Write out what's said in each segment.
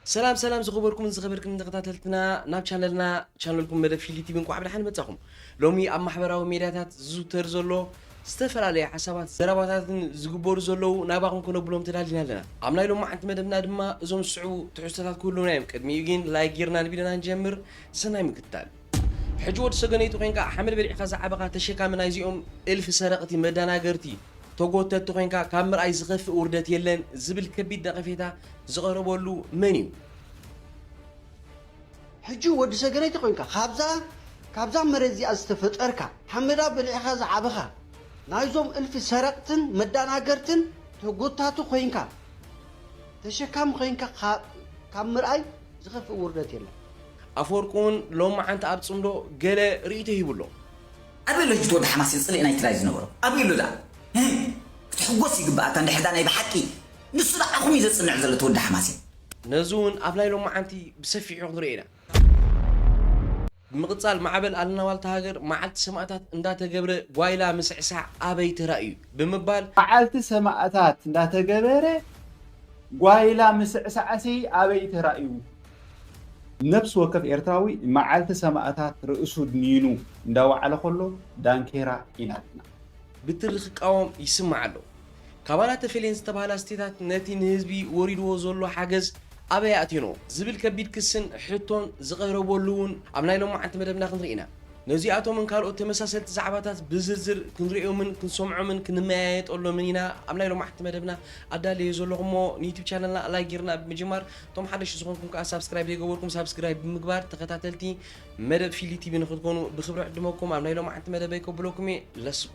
ሰላም ሰላም ዝኸበርኩምን ዝኸበርክንን ተኸታተልትና ናብ ቻነልና ቻነልኩም መደብ ፊሊ ቲቪ እንቋዕ ብደሓን መጻኹም። ሎሚ ኣብ ማሕበራዊ ሜድያታት ዝዝውተር ዘሎ ዝተፈላለየ ሓሳባት ዘረባታትን ዝግበሩ ዘለዉ ናባኹም ከነብሎም ተዳሊና ኣለና። ኣብ ናይ ሎማዓንቲ መደብና ድማ እዞም ዝስዕቡ ትሕዝቶታት ክህልዉና እዮም። ቅድሚኡ ግን ላይክ ጌርና ንቪድዮና ንጀምር። ሰናይ ምክትታል። ሕጂ ወዲ ሰገነይቲ ኮንካ ሓመድ በሊዕካ ዝዓበኻ ተሸካሚ ናይዚኦም እልፊ ሰረቅቲ መዳናገርቲ ተጎተቲ ኮንካ ካብ ምርኣይ ዝኸፍእ ውርደት የለን ዝብል ከቢድ ነቀፌታ ዝቀረበሉ መን እዩ? ሕጂ ወዲ ሰገነይቲ ኮንካ ካብዛ ካብዛ መሬት እዚኣ ዝተፈጠርካ ሓመዳ በሊዕኻ ዝዓበኻ ናይዞም እልፊ ሰረቅትን መዳናገርትን ተጎታቲ ኮንካ ተሸካሚ ኮንካ ካብ ምርኣይ ዝኸፍእ ውርደት የለን። ኣፈወርቂ እውን ሎሚ መዓንቲ ኣብ ፅምዶ ገለ ሪኢቶ ሂቡ ኣሎ። ኣበይ ኣሎ ሕጂ እቲ ወዲ ሓማሴን ጽልኢ ናይ ትግራይ ዝነበሮ ኣበይ ኣሎ ድኣ ህህ ክትሕጎስ ይግብኣካ እንድሕር ድኣ ናይ ብሓቂ ንሱ ንዓኹም እዩ ዘጽንዕ ዘሎ እቲ ወዲ ሓማሴን። ነዚ እውን ኣብ ናይ ሎምዓንቲ ብሰፊሑ ክንሪኦ ኢና። ብምቅጻል ማዕበል ኣለና ዋልታ ሃገር መዓልቲ ሰማእታት እንዳተገብረ ጓይላ ምስዕሳዕ ኣበይ ተራእዩ? ብምባል። መዓልቲ ሰማእታት እንዳተገበረ ጓይላ ምስዕሳዕሲ ኣበይ ተራእዩ? ነብሲ ወከፍ ኤርትራዊ መዓልቲ ሰማእታት ርእሱ ድኒኑ እንዳወዓለ ከሎ ዳንኬራ ኢናትና። ብትሪ ክቃወም ይስማዕ ኣሎ። ካባና ተፈልየን ዝተባህላ ስቴታት ነቲ ንህዝቢ ወሪድዎ ዘሎ ሓገዝ ኣበይ ኣእትዮንኦ? ዝብል ከቢድ ክስን ሕቶን ዝቐረበሉ እውን ኣብ ናይ ሎማዓንቲ መደብና ክንርኢ ኢና። ነዚኣቶምን ካልኦት ተመሳሰልቲ ዛዕባታት ብዝርዝር ክንርእዮምን ክንሰምዖምን ክንመያየጠሎምን ኢና ኣብ ናይ ሎማዓንቲ መደብና ኣዳልየዮ ዘለኹ እሞ ንዩቱብ ቻነልና ላይክ ጌርና ብምጅማር እቶም ሓደሽቲ ዝኾንኩም ከኣ ሳብስክራይብ ዘይገበርኩም ሳብስክራይብ ብምግባር ተኸታተልቲ መደብ ፊሊ ቲቪ ንኽትኮኑ ብኽብሪ ዕድመኩም ኣብ ናይ ሎማዓንቲ መደበይ ከብለኩም እየ ለስጎ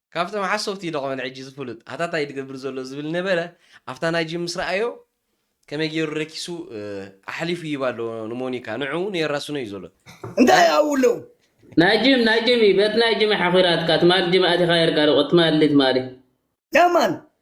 ካብቶም ሓሰውቲ ዶቕመን ሕጂ ዝፍሉጥ ሃታታይ ድገብር ዘሎ ዝብል ነበረ ኣፍታ ናይ ጂም ምስ ረኣዮ ከመይ ጌሩ ረኪሱ ኣሕሊፉ ይህብ ኣሎ ንሞኒካ ንዑ ውን የራስኖ እዩ ዘሎ እንታይ ያው ኣለው ናይ ጂም ናይ ጂም እዩ በቲ ናይ ጂም ሓኺራትካ ትማሊ ጂም ኣቲኻ የርጋለቆ ትማሊ ትማሊ ያማን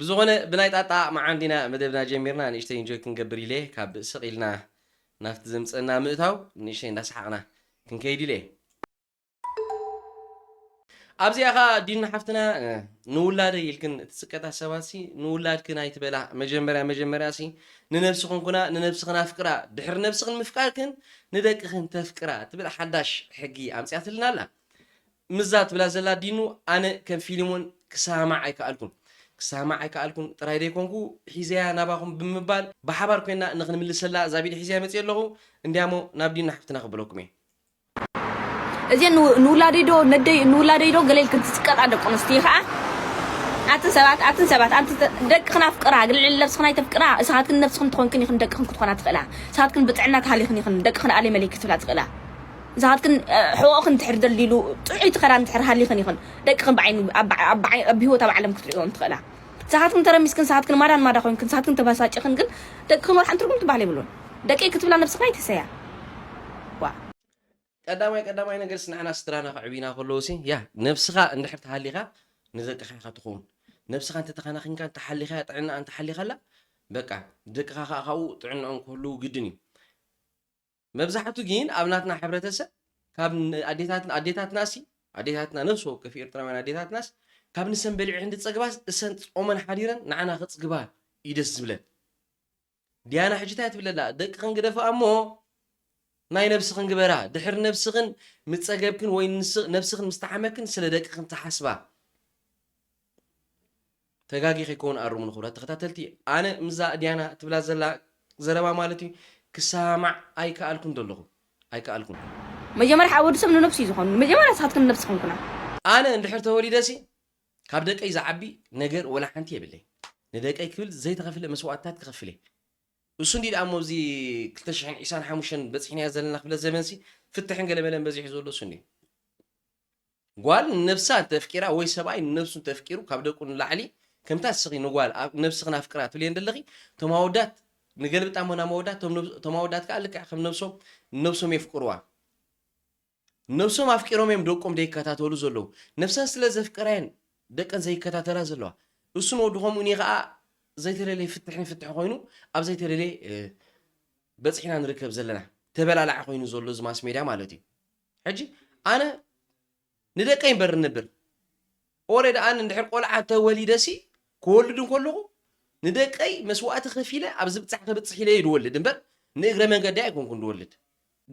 ብዝኾነ ብናይ ጣጣ መዓም ዲና መደብና ጀሚርና ንእሽተይ እንጆይ ክንገብር ኢለ ካብ ስቅ ኢልና ናብቲ ዘምጸና ምእታው ንእሽተይ እንዳሰሓቅና ክንከይድ ኢለ። ኣብዚኣ ከኣ ዲና ሓፍትና ንውላደይ ኢልክን ትጽቀጣ ሰባት ሲ ንውላድክን ኣይትበላ መጀመርያ መጀመርያ ሲ ንነብስኽን ኩና ንነብስኽን ኣፍቅራ ድሕሪ ነብስኽን ምፍቃርክን ንደቅኽን ተፍቅራ ትብል ሓዳሽ ሕጊ ኣምጺኣትልና ኣላ ምስዛ ትብላ ዘላ ዲኑ ኣነ ከም ፊሊሞን ክሰማማዕ ኣይከኣልኩን። ክሰማማዕ ኣይከኣልኩን ጥራይ ዘይኮንኩ ሒዘያ ናባኹም ብምባል ብሓባር ኮይና ንኽንምልሰላ እዛ ቪድዮ ሒዘያ መጺኤ ኣለኹ። እንድያሞ ናብ ዲኑ ሓፍትና ከብለኩም እየ። እዚኤን ንውላደይ ዶ ነደይ ንውላደይ ዶ ገለ ኢልክን ትጽቀጣ ደቂ ኣንስትዮ ከኣ ኣትን ሰባት ኣትን ሰባት ኣንቲ ደቅኽን ኣፍቅራ ግልዕል ነብስኽን ኣይተፍቅራ እሳኻትክን ነብስኽን ተኾንክን ኢኽን ደቅኽን ክትኾና ትኽእላ እሳኻትክን ብጥዕና ተሃሊኽን ኢኽን ደቅኽን ኣለይ መለይ ክትብላ ትኽእላ ንስኻትክን ሕቖኽን እንድሕር ደልዲሉ ጥዑይቲ ኸዳን እንድሕር ሃሊኽን ኢኽን ደቅኽን ብዓይኒ ኣብ ብሂወት ኣብ ዓለም ክትሪእወን ትኽእላ ንስኻትክን ተረሚስክን ንስኻትክን ማዳ ንማዳ ኮይንክን ንስኻትክን ተባሳጪኽን ግን ደቅኽን ወላ ሓንቲ ትርጉም ትብሃል የብሉን ደቀይ ክትብላ ነብስኻ ኣይትህሰያ ዋእ። ቀዳማይ ቀዳማይ ነገርስ ንዓና ስድራና ከዕብዩና ከለዉሲ ያ ነብስኻ እንድሕር ተሃሊኻ ንደቅኻ ኢኻ ትኾውን ነብስኻ እንተ ተኻናኺንካን ተሓሊኻያ ጥዕናኣ እንተ ሓሊኻላ በቃ ደቅኻ ከኣ ካብኡ ጥዕንኦም ክህልዉ ግድን እዩ። መብዛሕቱ ግን ኣብ ናትና ሕብረተሰብ ካብ ኣዴታትና ኣዴታትና ሲ ኣዴታትና ነፍሲ ወከፍ ኤርትራውያን ኣዴታትናስ ካብ ንሰን በሊዕን ዝጸግባስ እሰን ጾመን ሓዲረን ንዓና ክጽግባ እዩ ደስ ዝብለን ዲያና ሕጂ እንታይ ትብለ ኣላ ደቅኽን ግደፋ እሞ ናይ ነብስኽን ግበራ ድሕሪ ነብስኽን ምጸገብክን ወይ ነብስኽን ምስተሓመክን ስለ ደቅኽን ተሓስባ ተጋጊ ከይከውን ኣርሙኒ ክብራት ተከታተልቲ ኣነ ምስዛ ድያና ትብላ ዘላ ዘረባ ማለት እዩ ክሰማማዕ ኣይከኣልኩን ዘለኹ ኣይከኣልኩን። መጀመርያ ሓደ ወድሰብ ንነብሱ እዩ ዝኮኑ መጀመርያ ንስካትክን ንነብስክን ኩና። ኣነ እንድሕር ተወሊደ ሲ ካብ ደቀይ ዝዓቢ ነገር ወላ ሓንቲ የብለይን ንደቀይ ክብል ዘይተከፍለ መስዋእትታት ክከፍል እየ እሱ እንድዩ ድኣ እሞ ኣብዚ ክልተ ሽሕን ዒስራን ሓሙሽተን በጺሕናዮ ዘለና ክፍለ ዘበን ሲ ፍትሕን ገለመለን በዚሑ ዘሎ እሱ እንድዩ ጓል ንነብሳ እንተፍቂራ ወይ ሰብኣይ ንነብሱ እንተፍቂሩ ካብ ደቁ ንላዕሊ ከምታ እስኺ ንጓል ኣብ ነብስኽን ኣፍቅራ ትብልየን ደለኺ እቶም ኣወዳት ንገልብጣ እሞ ናመወዳት እቶም ኣወዳት ከኣ ልክዕ ከም ነብሶም ንነብሶም የፍቅርዋ ንነብሶም ኣፍቂሮም እዮም ደቆም ደይከታተሉ ዘለዉ ነብሰን ስለ ዘፍቅራ እየን ደቀን ዘይከታተላ ዘለዋ እሱ ንወዲ ከምኡ እኔ ከኣ ዘይተደለየ ፍትሕ ንፍትሕ ኮይኑ ኣብ ዘይተደለየ በጽሒና ንርከብ ዘለና ተበላላዒ ኮይኑ ዘሎ እዚ ማስሜድያ ማለት እዩ። ሕጂ ኣነ ንደቀይ እምበር እንብር ኦረ ደኣ እንድሕር ቆልዓ ተወሊደሲ ክወልድ እንከለኹ ንደቀይ መስዋእቲ ከፊለ ኣብ ዝብጻሕ ክብጽሕ ኢለ ድወልድ እምበር ንእግረ መንገዲ ኣይኮንኩን ድወልድ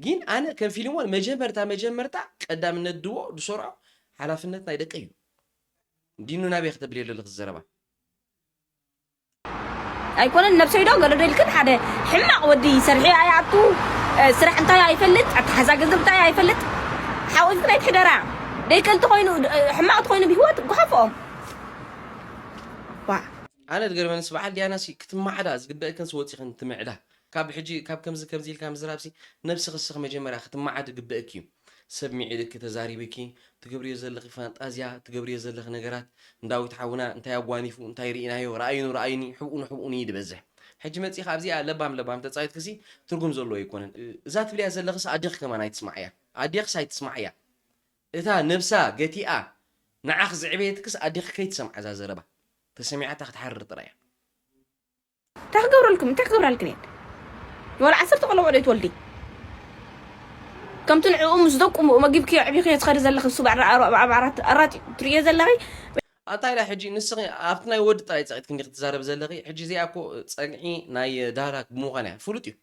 ግን ኣነ ከም ፊልሞን መጀመርታ መጀመርታ ቀዳምነት ድቦ ድሰርዖ ሓላፍነት ናይ ደቀይ እዩ ዲኑ ናበይ ክትብልዮ ዘለኺ ዘረባ ኣይኮነን ነብሰይ ዶ ገለዶ ኢልክን ሓደ ሕማቅ ወዲ ሰርሒ ኣይኣቱ ስራሕ እንታይ ኣይፈልጥ ኣተሓዛ ገንዘብ እንታይ ኣይፈልጥ ሓቆፍክን ኣይትሕደራ ደይቀል ተኮይኑ ሕማቅ ተኮይኑ ብሂወት ጉሓፎኦም ዋእ ኣነ ድገርመንስ በዓል ዲያናሲ ክትማዕዳ ዝግበእክንስ ወጺክን ትምዕዳ ካብ ሕጂ ካብ ከምዚ ከምዚ ኢልካ ምዝራብሲ ነብስኪ ስኪ መጀመርያ ክትማዓዲ ግበእኪ እዩ። ሰብ ሚዒድኪ ተዛሪብኪ ትገብርዮ ዘለኺ ፋንጣዝያ ትገብርዮ ዘለኺ ነገራት ንዳዊት ሓውና እንታይ ኣጓኒፉ እንታይ ሪኢናዮ ረኣዩኑ ረኣዩኒ ሕብኡ ንሕብኡኒ እዩ ድበዝሕ ሕጂ መጺኺ ኣብዚኣ ለባም ለባም ተጻዊትክሲ ትርጉም ዘለዎ ኣይኮነን እዛ ትብልያ ዘለኽስ ኣዴኺ ከማን ኣይትስማዕያ ኣዴኽስ ኣይትስማዕያ እታ ነብሳ ገቲኣ ንዓኺ ዘዕበየትክስ ኣዴኺ ከይትሰምዓ እዛ ዘረባ ተሰሚዓታ ክትሓርር ጥራይ እያ። እንታይ ክገብረልኩም እንታይ ክገብራልክን እየን ዋላ ዓሰርተ ቆለብዑ ዶ ይትወልዲ ከምቲ ንዕኡ ምስ ደቁ መጊብክዮ ዕቢክዮ ትኸዲ ዘለኺ እሱ ዓራት ኣራት እዩ ትርእዮ ዘለኺ ኣንታይ ኢላ ሕጂ ንስኺ ኣብቲ ናይ ወዲ ጥራይ ጸቂጥ ክንዲ ክትዛረቢ ዘለኺ ሕጂ እዚኣ እኮ ጸግዒ ናይ ዳህላክ ብምዃን እያ ፍሉጥ እዩ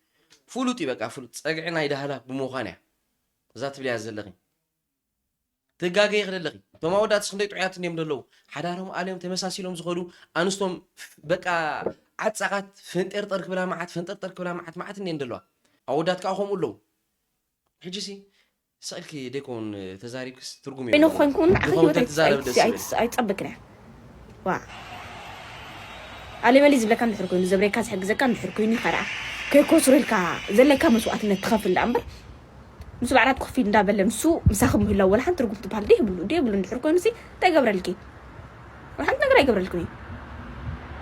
ፍሉጥ እዩ በቃ ፍሉጥ ጸግዒ ናይ ዳህላክ ብምዃን እያ እዛ ትብልያ ዘለኺ ትጋገይ ይክእል ኣለኺ እቶም ኣወዳትስ ክንደይ ጥዑያት እንዲዮም ዘለዉ ሓዳሮም ኣልዮም ተመሳሲሎም ዝኸዱ ኣንስቶም በቃ ዓጻቓት ፈንጠርጠር ክብላ መዓት ፈንጠርጠር ክብላ መዓት መዓት እንዲየን ዘለዋ ኣወዳት ከዓ ከምኡ ኣለዉ ሕጂሲ ስቕልኪ ደይኮን ተዛሪብክስ ትርጉም ኮይኑ ኮይንኩን ንዓኺ ህይወት ኣይትዛረብ ደስ ይብል ኣይትጸብክን እያ ዋእ ኣሌመሊ ዝብለካ እንድሕር ኮይኑ ዘብሬካ ዝሕግዘካ እንድሕር ኮይኑ ኢካ ደኣ ከይኮስሩ ኢልካ ዘለካ መስዋእትነት ትከፍል ደኣ እምበር ምስ ባዕላ ትኩፊ እንዳበለ ንሱ ምሳኪ ምህላው ወላ ሓንቲ ትርጉም ትበሃል ደይብሉ ደይብሉ እንድሕር ኮይኑ ሲ እንታይ ይገብረልኪ ወላ ሓንቲ ነገር ኣይገብረልክን እዩ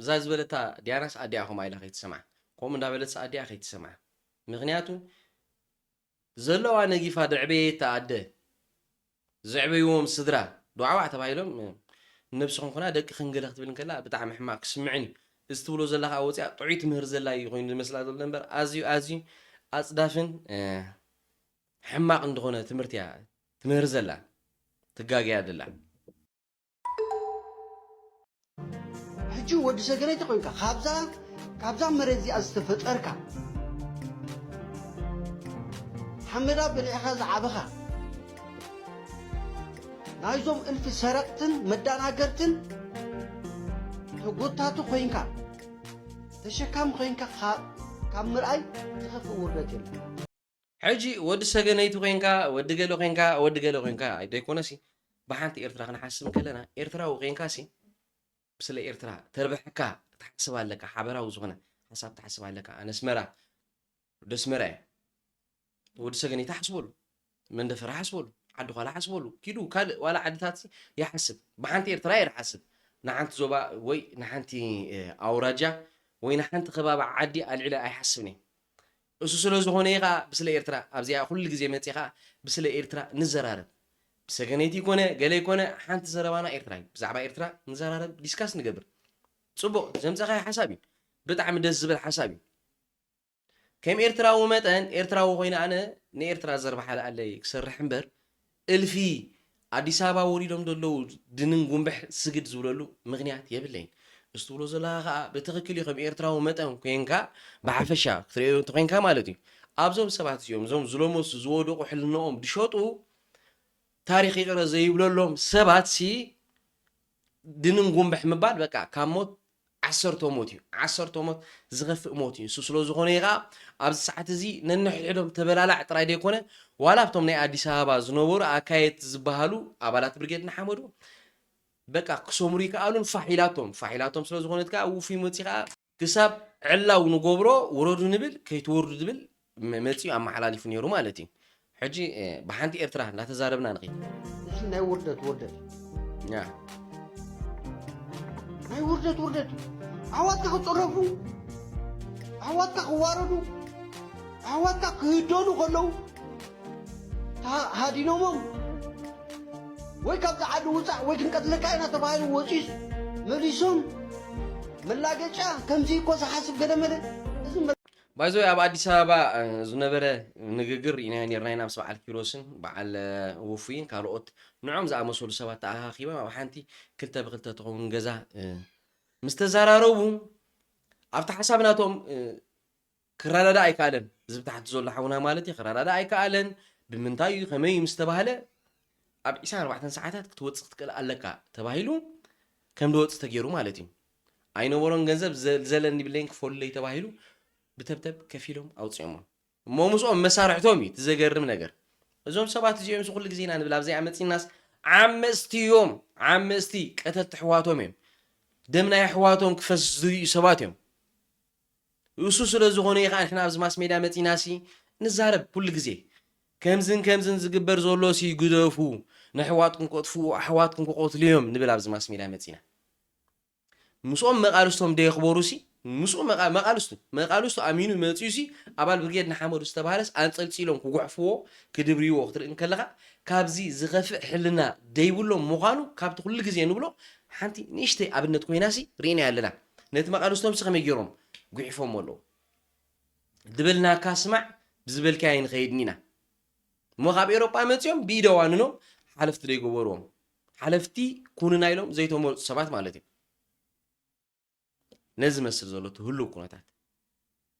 እዛ ዝበለታ ዲያናስ ኣዲኣ ከምኣ ኢላ ከይትሰምዓ ከምኡ እንዳበለትስ ኣዲኣ ከይትሰምዓ ምክንያቱ ዘለዋ ነጊፋ ደዕበየታ ኣደ ዘዕበይዎም ስድራ ዷዕዋዕ ተባሂሎም ንነብስኩም ኩና ደቅክን ገለ ክትብል እንከላ ብጣዕሚ ሕማቅ ክስምዕን እዩ እዚ ትብሎ ዘላ ከኣ ወጺኣ ጥዑይ ትምህር ዘላ እዩ ኮይኑ ዝመስላ ዘሎ እንበር ኣዝዩ ኣዝዩ ኣጽዳፍን ሕማቅን ድኮነ ትምህርቲ እያ ትምህር ዘላ ትጋገያ ደላ። ሕጂ ወዲ ሰገነ ተኾይንካ ካብዛ ካብዛ መሬት እዚኣ ዝተፈጠርካ ሓመዳ በሊዕኻ ዝዓበኻ ናይዞም እልፊ ሰረቕትን መዳናገርትን ተጎታቲ ኮይንካ ተሸካሚ ኮይንካ ካብ ምርኣይ ዝኸፍእ ውርደት የለን ሕጂ ወዲ ሰገነይቲ ኮንካ ወዲ ገለ ኮንካ ወዲ ገለ ኮንካ ኣይደይኮነሲ ብሓንቲ ኤርትራ ክንሓስብ ከለና ኤርትራዊ ኮንካሲ ስለ ኤርትራ ተርብሐካ ትሓስብ ኣለካ ሓበራዊ ዝኾነ ሓሳብ ትሓስብ ኣለካ ኣነ ኣስመራ ወዲ ኣስመራ እየ ወዲ ሰገነይቲ ሓስበሉ መንደፈራ ሓስበሉ ዓዲ ኋላ ሓስበሉ ኪዱ ካልእ ዋላ ዓድታት ይሓስብ ብሓንቲ ኤርትራ እየ ዝሓስብ ንሓንቲ ዞባ ወይ ንሓንቲ ኣውራጃ ወይ ንሓንቲ ከባቢ ዓዲ ኣልዒለ ኣይሓስብን እየ እሱ ስለ ዝኾነ እዩ ከኣ ብስለ ኤርትራ ኣብዚኣ ኩሉ ግዜ መጺኻ ብስለ ኤርትራ ንዘራረብ ብሰገነይቲ ኮነ ገለ ኮነ ሓንቲ ዘረባና ኤርትራ እዩ ብዛዕባ ኤርትራ ንዘራረብ ዲስካስ ንገብር ጽቡቕ ዘምጸኻዮ ሓሳብ እዩ ብጣዕሚ ደስ ዝብል ሓሳብ እዩ ከም ኤርትራዊ መጠን ኤርትራዊ ኮይነ ኣነ ንኤርትራ ዘርብሓላ ኣለይ ክሰርሕ እምበር እልፊ ኣዲስ ኣበባ ወሪዶም ዘለዉ ድንን ጉምብሕ ስግድ ዝብለሉ ምኽንያት የብለይን። እዚ ትብሎ ዘለኻ ከኣ ብትኽክል እዩ ከም ኤርትራዊ መጠን ኮንካ ብሓፈሻ ክትርእዮ እንተኮንካ ማለት እዩ። ኣብዞም ሰባት እዚኦም እዞም ዝለመሱ ዝወደቁ ሕልነኦም ዝሸጡ ታሪኽ ይቅረ ዘይብለሎም ሰባት ሲ ድንን ጉምብሕ ምባል በቃ ካብ ሞት ዓሰርቶ ሞት እዩ። ዓሰርቶ ሞት ዝኸፍእ ሞት እዩ። እሱ ስለ ዝኾነ እዩ ከኣ ኣብዚ ሰዓት እዚ ነንሕድሕዶም ተበላላዕ ጥራይ ደይኮነ ዋላ ኣብቶም ናይ ኣዲስ ኣበባ ዝነበሩ ኣካየድቲ ዝበሃሉ ኣባላት ብርጌድ ንሓመዱ በቃ ክሰምሩ ኣይከኣሉን ፋሕ ኢላቶም። ፋሕ ኢላቶም ስለ ዝኾነት ከኣ ውፉይ መጺኡ ከኣ ክሳብ ዕላው ንገብሮ ውረዱ ንብል ከይትወርዱ ዝብል መጺኡ ኣመሓላሊፉ ነይሩ ማለት እዩ። ሕጂ ብሓንቲ ኤርትራ እንዳተዛረብና ንኺድ። እዚ ናይ ውርደት ውርደት እዩ። ያ ናይ ውርደት ውርደት እዩ። ኣሕዋትካ ክጽረፉ፣ ኣሕዋትካ ክዋረዱ፣ ኣሕዋትካ ክህደኑ ከለዉ ሃዲኖሞም ወይ ካብዚ ዓዲ ውፃእ ወይ ክንቀትለካ ኢና ተባሂሉ ወፂኡስ መሊሶም መላገጫ ከምዚ እኮ ዝሓስብ ገደመደ ባይዘ ኣብ ኣዲስ ኣበባ ዝነበረ ንግግር ርኢናዮ ነርና ኢና ምስ በዓል ኪሮስን በዓል ውፉይን ካልኦት ንዖም ዝኣመሰሉ ሰባት ተኣኻኺቦም ኣብ ሓንቲ ክልተ ብክልተ ትኸውን ገዛ ምስ ተዘራረቡ ኣብቲ ሓሳብ ናቶም ክረዳዳእ ኣይከኣለን ዝብ ታሕቲ ዘሎ ሓውና ማለት እዩ ክረዳዳእ ኣይከኣለን ብምንታይ እዩ ከመይ እዩ ምስ ተባህለ ኣብ 24 ሰዓታት ክትወፅእ ክትክእል ኣለካ ተባሂሉ ከም ደወፅ ተገይሩ ማለት እዩ ኣይነበሮን ገንዘብ ዘለኒ ብለይን ክፈሉለይ ተባሂሉ ብተብተብ ከፍ ኢሎም ኣውፅኦሞ እሞ ምስኦም መሳርሕቶም እዩ እቲ ዘገርም ነገር እዞም ሰባት እዚኦም ኩሉ ግዜ ኢና ንብል ኣብዘይ ኣመፂናስ ዓመፅቲ እዮም ዓመፅቲ ቀተልቲ ኣሕዋቶም እዮም ደም ናይ ኣሕዋቶም ክፈስ ዝርእዩ ሰባት እዮም ንሱ ስለ ዝኾነ እዩ ከኣ ንሕና ኣብዚ ማስሜድያ መጺናሲ ንዛረብ ኩሉ ግዜ። ከምዝን ከምዝን ዝግበር ዘሎሲ ግደፉ፣ ነሕዋትኩም ከጥፍኡ፣ ኣሕዋትኩም ክቐትሉ እዮም ንብል ኣብዚ ማስሜድያ መጺና። ምስኦም መቓልስቶም ደየኽበሩሲ ምስኡ መቓ መቓልስቱ መቓልስቱ ኣሚኑ መጺኡሲ ኣባል ብርጌድ ንሓመዱ ዝተባህለስ ኣንጸልጺሎም ክጉሕፍዎ ክድብርይዎ ክትርኢ እንከለኻ ካብዚ ዝኸፍእ ሕልና ደይብሎም ምዃኑ ካብቲ ኩሉ ግዜ ንብሎ ሓንቲ ንእሽተይ ኣብነት ኮይናሲ ርኢናያ ኣለና። ነቲ መቓልስቶምሲ ከመይ ገይሮም ጒሒፎሞ ኣለዉ? ድበልናካ ስማዕ፣ ብዝበልካዮ ኣይንኸይድን ኢና። እሞ ካብ ኤውሮጳ መጺኦም ብኢደ ዋንኖም ሓለፍቲ ደይ ገበርዎም? ሓለፍቲ ኩኑና ኢሎም ዘይተመርጹ ሰባት ማለት እዩ። ነዚ መስል ዘሎ እቲ ህሉው ኩነታት።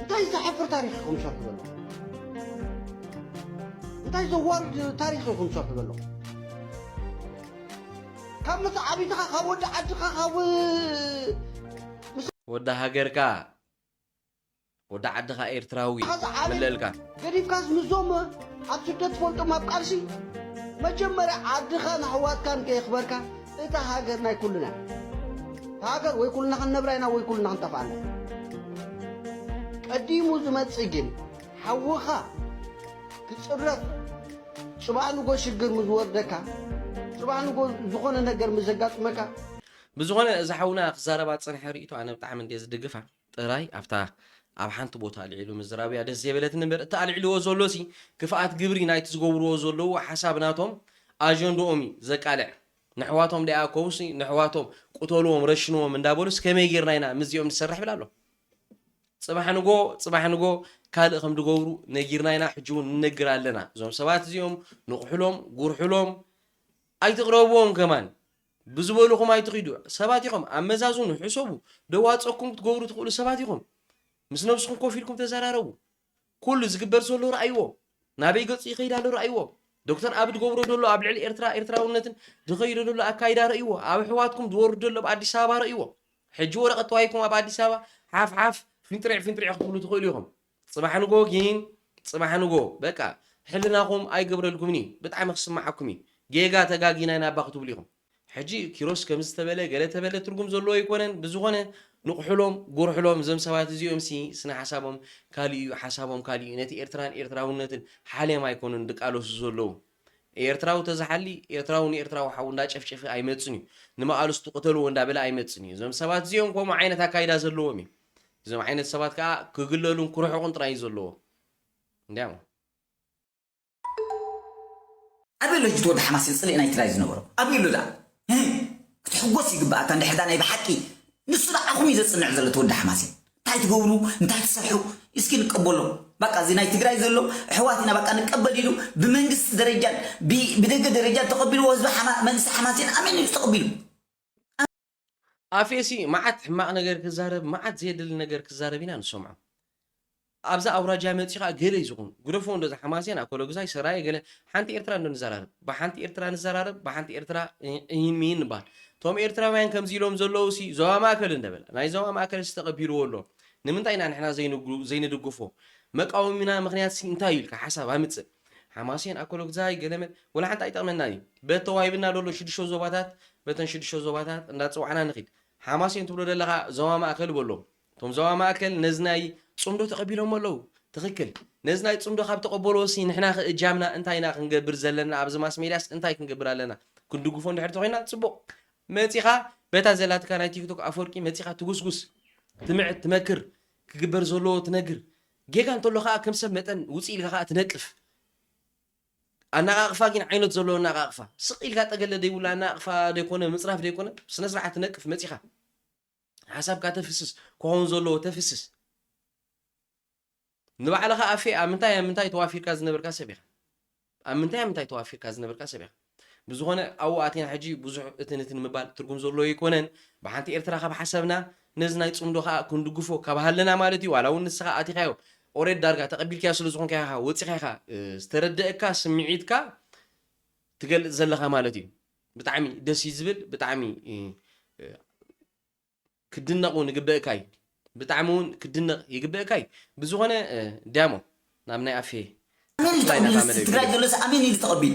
እንታይ ዘሕፍር ታሪኽ ኢኹም ትሰርሑ ዘለኹም እንታይ ዘዋርድ ታሪኽ ኢኹም ትሰርሑ ዘለኹም ካብ መተዓቢትኻ ካብ ወዲ ዓድኻ ካብ ወዲ ሃገርካ ወዲ ዓድኻ ኤርትራዊ ምለልካ ገዲፍካስ ምስዞም ኣብ ስደት ትፈልጦም ኣብ ቃልሲ መጀመርያ ዓድኻን ኣሕዋትካን ከየኽበርካ እታ ሃገር ናይ ኩልና እያ። እታ ሃገር ወይ ኩልና ክንነብራ ኢና ወይ ኩልና ክንጠፍኣና ኢና። ቀዲሙ ዝመጽእ ግን ሓውኻ ክጽረፍ ጽባሕ ንጎ ሽግር ምስ ዝወርደካ ጽባሕ ንጎ ዝኾነ ነገር ምስ ዘጋጥመካ ብዝኾነ እዚ ሓውና ክዛረባ ዝጸንሐ ርእይቶ ኣነ ብጣዕሚ እንድየ ዝድግፋ። ጥራይ ኣብታ ኣብ ሓንቲ ቦታ ኣልዒሉ ምዝራብ እያ ደስ ዘይበለትኒ እምበር እቲ ኣልዒልዎ ዘሎሲ ክፍኣት ግብሪ ናይቲ ዝገብርዎ ዘለዉ ሓሳብ ናቶም ኣጀንድኦም እዩ ዘቃልዕ ነሕዋቶም ደይኣከቡሲ ነሕዋቶም ቁተልዎም ረሽንዎም እንዳበሉስ ከመይ ጌርና ኢና ምስዚኦም ንሰርሕ ይብል ኣሎ ጽባሕ ንግሆ ጽባሕ ንግሆ ካልእ ከም ድገብሩ ነጊርና ኢና ሕጂ ውን ንነግር ኣለና እዞም ሰባት እዚኦም ንቕሑሎም ጉርሑሎም ኣይትቕረብዎም ከማን። ብዝበሉኹም ኣይትኺዱ ሰባት ኢኹም ኣመዛዝኑ ሕሰቡ ደዋፀኩም ክትገብሩ ትኽእሉ ሰባት ኢኹም ምስ ነብስኹም ኮፍ ኢልኩም ተዘራረቡ ኩሉ ዝግበር ዘሎ ረኣይዎ ናበይ ገፁ ይኸይድ ኣሎ ረኣይዎ ዶክተር ኣብ ዝገብሮ ዘሎ ኣብ ልዕሊ ኤርትራ ኤርትራውነትን ዝኸይዶ ዘሎ ኣካይዳ ረእይዎ ኣብ ኣሕዋትኩም ዝወርድ ዘሎ ኣብ ኣዲስ ኣበባ ረእይዎ ሕጂ ወረቐት ተዋሂብኩም ኣብ ኣዲስ ኣበባ ሓፍሓፍ ፊንጥሪዕ ፊንጥሪዕ ክትብሉ ትኽእሉ ኢኹም ጽባሕ ንግሆ ጊን ጽባሕ ንግሆ በቃ ሕልናኹም ኣይገብረልኩምን ኢዩ ብጣዕሚ ክስማዓኩም ኢዩ ጌጋ ተጋጊና ኢና እባ ክትብሉ ኢኹም ሕጂ ኪሮስ ከምዚ ተበለ ገለ ተበለ ትርጉም ዘለዎ ኣይኮነን ብዝኾነ ንቅሑሎም ጉርሑሎም እዞም ሰባት እዚኦምሲ ስነ ሓሳቦም ካሊእ ኢዩ ሓሳቦም ካሊእ ኢዩ ነቲ ኤርትራን ኤርትራውነትን ሓልዬም ኣይኮኑን ድቃለሱ ዘለዉ ኤርትራዊ ተዝሓሊ ኤርትራዊ ንኤርትራዊ ሓዉ እንዳጨፍጨፈ ኣይመጽን ኢዩ ንመኣልስቱ ቅተልዎ እንዳበለ ኣይመጽን ኢዩ እዞም ሰባት እዚኦም ከምኡ ዓይነት ኣካይዳ ዘለዎም ኢዩ እዞም ዓይነት ሰባት ከኣ ክግለሉን ክርሕቁን ጥራይ እዩ ዘለዎም እንዲያውም። ኣበይ ኣሎ ሕጂ ወዲ ሓማሴን ጽልኢ ናይ ትግራይ ዝነበሮ ኣበይ ኣሎ ድኣ ህህ ክትሕጎስ ይግብኣካ እንድሕር ድኣ ናይ ብሓቂ ንሱ ንዓኹም እዩ ዘጽንዕ ዘሎ እቲ ወዲ ሓማሴን እንታይ ትገብሩ እንታይ ትሰርሑ እስኪ ንቀበሎ ባቃ እዚ ናይ ትግራይ ዘሎ ኣሕዋት ኢና ባቃ ንቀበል ኢሉ ብመንግስቲ ደረጃን ብደገ ደረጃን ተቀቢልዎ ህዝቢ መንግስቲ ሓማሴን ኣሜን ኢሉ ተቀቢሉ ኣፌሲ ማዓት ሕማቅ ነገር ክዛረብ ማዓት ዘየድሊ ነገር ክዛረብ ኢና ንሰምዖ ኣብዛ ኣውራጃ መጺኡ ከኣ ገለ እዩ ዝኩን ግደፎ እንዶ እዚ ሓማሴን ኣኮሎጉዛይ ሰራየ ገለ ሓንቲ ኤርትራ እንዶ ንዛራረብ ብሓንቲ ኤርትራ ንዛራረብ ብሓንቲ ኤርትራ እሂን ምሂን ንባሃል እቶም ኤርትራውያን ከምዚ ኢሎም ዘለዉ ሲ ዞባ ማእከል እንደበለ ናይ ዞባ ማእከልሲ ተቀቢልዎ ኣሎ ንምንታይ ኢና ንሕና ዘይንድግፎ መቃወሚና ምክንያትሲ እንታይ እዩ ኢልካ ሓሳብ ኣምጽእ ሓማሴን ኣኮሎጉዛይ ገለ መለ ወላ ሓንቲ ኣይጠቅመናን እዩ በል ተዋሂብና ዶ ኣሎ ሽዱሽተ ዞባታት በተን ሽዱሽተ ዞባታት እንዳጸዋዕና ንኺድ ሓማሴን ትብሎ ደለኻ ዞባ ማእከል በሎም እቶም ዞባ ማእከል ነዚ ናይ ጽምዶ ተቀቢሎሞ ኣለዉ ትኽክል ነዚ ናይ ጽምዶ ካብ ተቀበልዎሲ ንሕናኸ እጃምና እንታይ ኢና ክንገብር ዘለና ኣብዚ ማስ ሜድያስ እንታይ ክንገብር ኣለና ክንድግፎ እንድሕር ተኾይና ጽቡቅ መጺኻ በታ ዘላትካ ናይ ቲክቶክ ኣፎርቂ መጺኻ ትጉስጉስ ትምዕድ ትመክር ክግበር ዘለዎ ትነግር ጌጋ እንተሎ ከኣ ከም ሰብ መጠን ውጽእ ኢልካ ከኣ ትነቅፍ። ኣነቓቕፋ ጊን ዓይነት ዘለዎ ኣነቓቕፋ፣ ስቕ ኢልካ ጠገለ ዘይብሉ ኣነቓቕፋ ዘይኮነ ምጽራፍ ዘይኮነ ብስነ ስርዓት ትነቅፍ መጺኻ ሓሳብካ ተፍስስ ክኸውን ዘለዎ ተፍስስ ንባዕልኻ ኣፌ ኣብ ምንታይ ኣብ ምንታይ ተዋፊርካ ዝነበርካ ሰብ ኢኻ። ኣብ ምንታይ ኣብ ምንታይ ተዋፊርካ ዝነበርካ ሰብ ኢኻ። ብዝኾነ ኣብኡ ኣቲና ሕጂ ብዙሕ እትን እትን ምባል ትርጉም ዘለዎ ኣይኮነን። ብሓንቲ ኤርትራ ካብ ሓሰብና ነዚ ናይ ጽምዶ ከኣ ክንድግፎ ካብ ሃለና ማለት እዩ። ዋላ እውን ንስኻ ኣቲኻዮ ኦሬድ ዳርጋ ተቐቢልካዮ ስለ ዝኾንካ ኢኻ ወጺኻ ኢኻ ዝተረደኣካ ስምዒትካ ትገልጽ ዘለኻ ማለት እዩ። ብጣዕሚ ደስ እዩ ዝብል ብጣዕሚ ክድነቅ ውን ይግበእካ እዩ ብጣዕሚ ውን ክድነቅ ይግበእካ እዩ ብዝኮነ ዳሞ ናብ ናይ ኣፌ ኣመን እዩ ተቐቢሉ ምስ ትግራይ ዘሎስ ኣመን ኢሉ ተቐቢሉ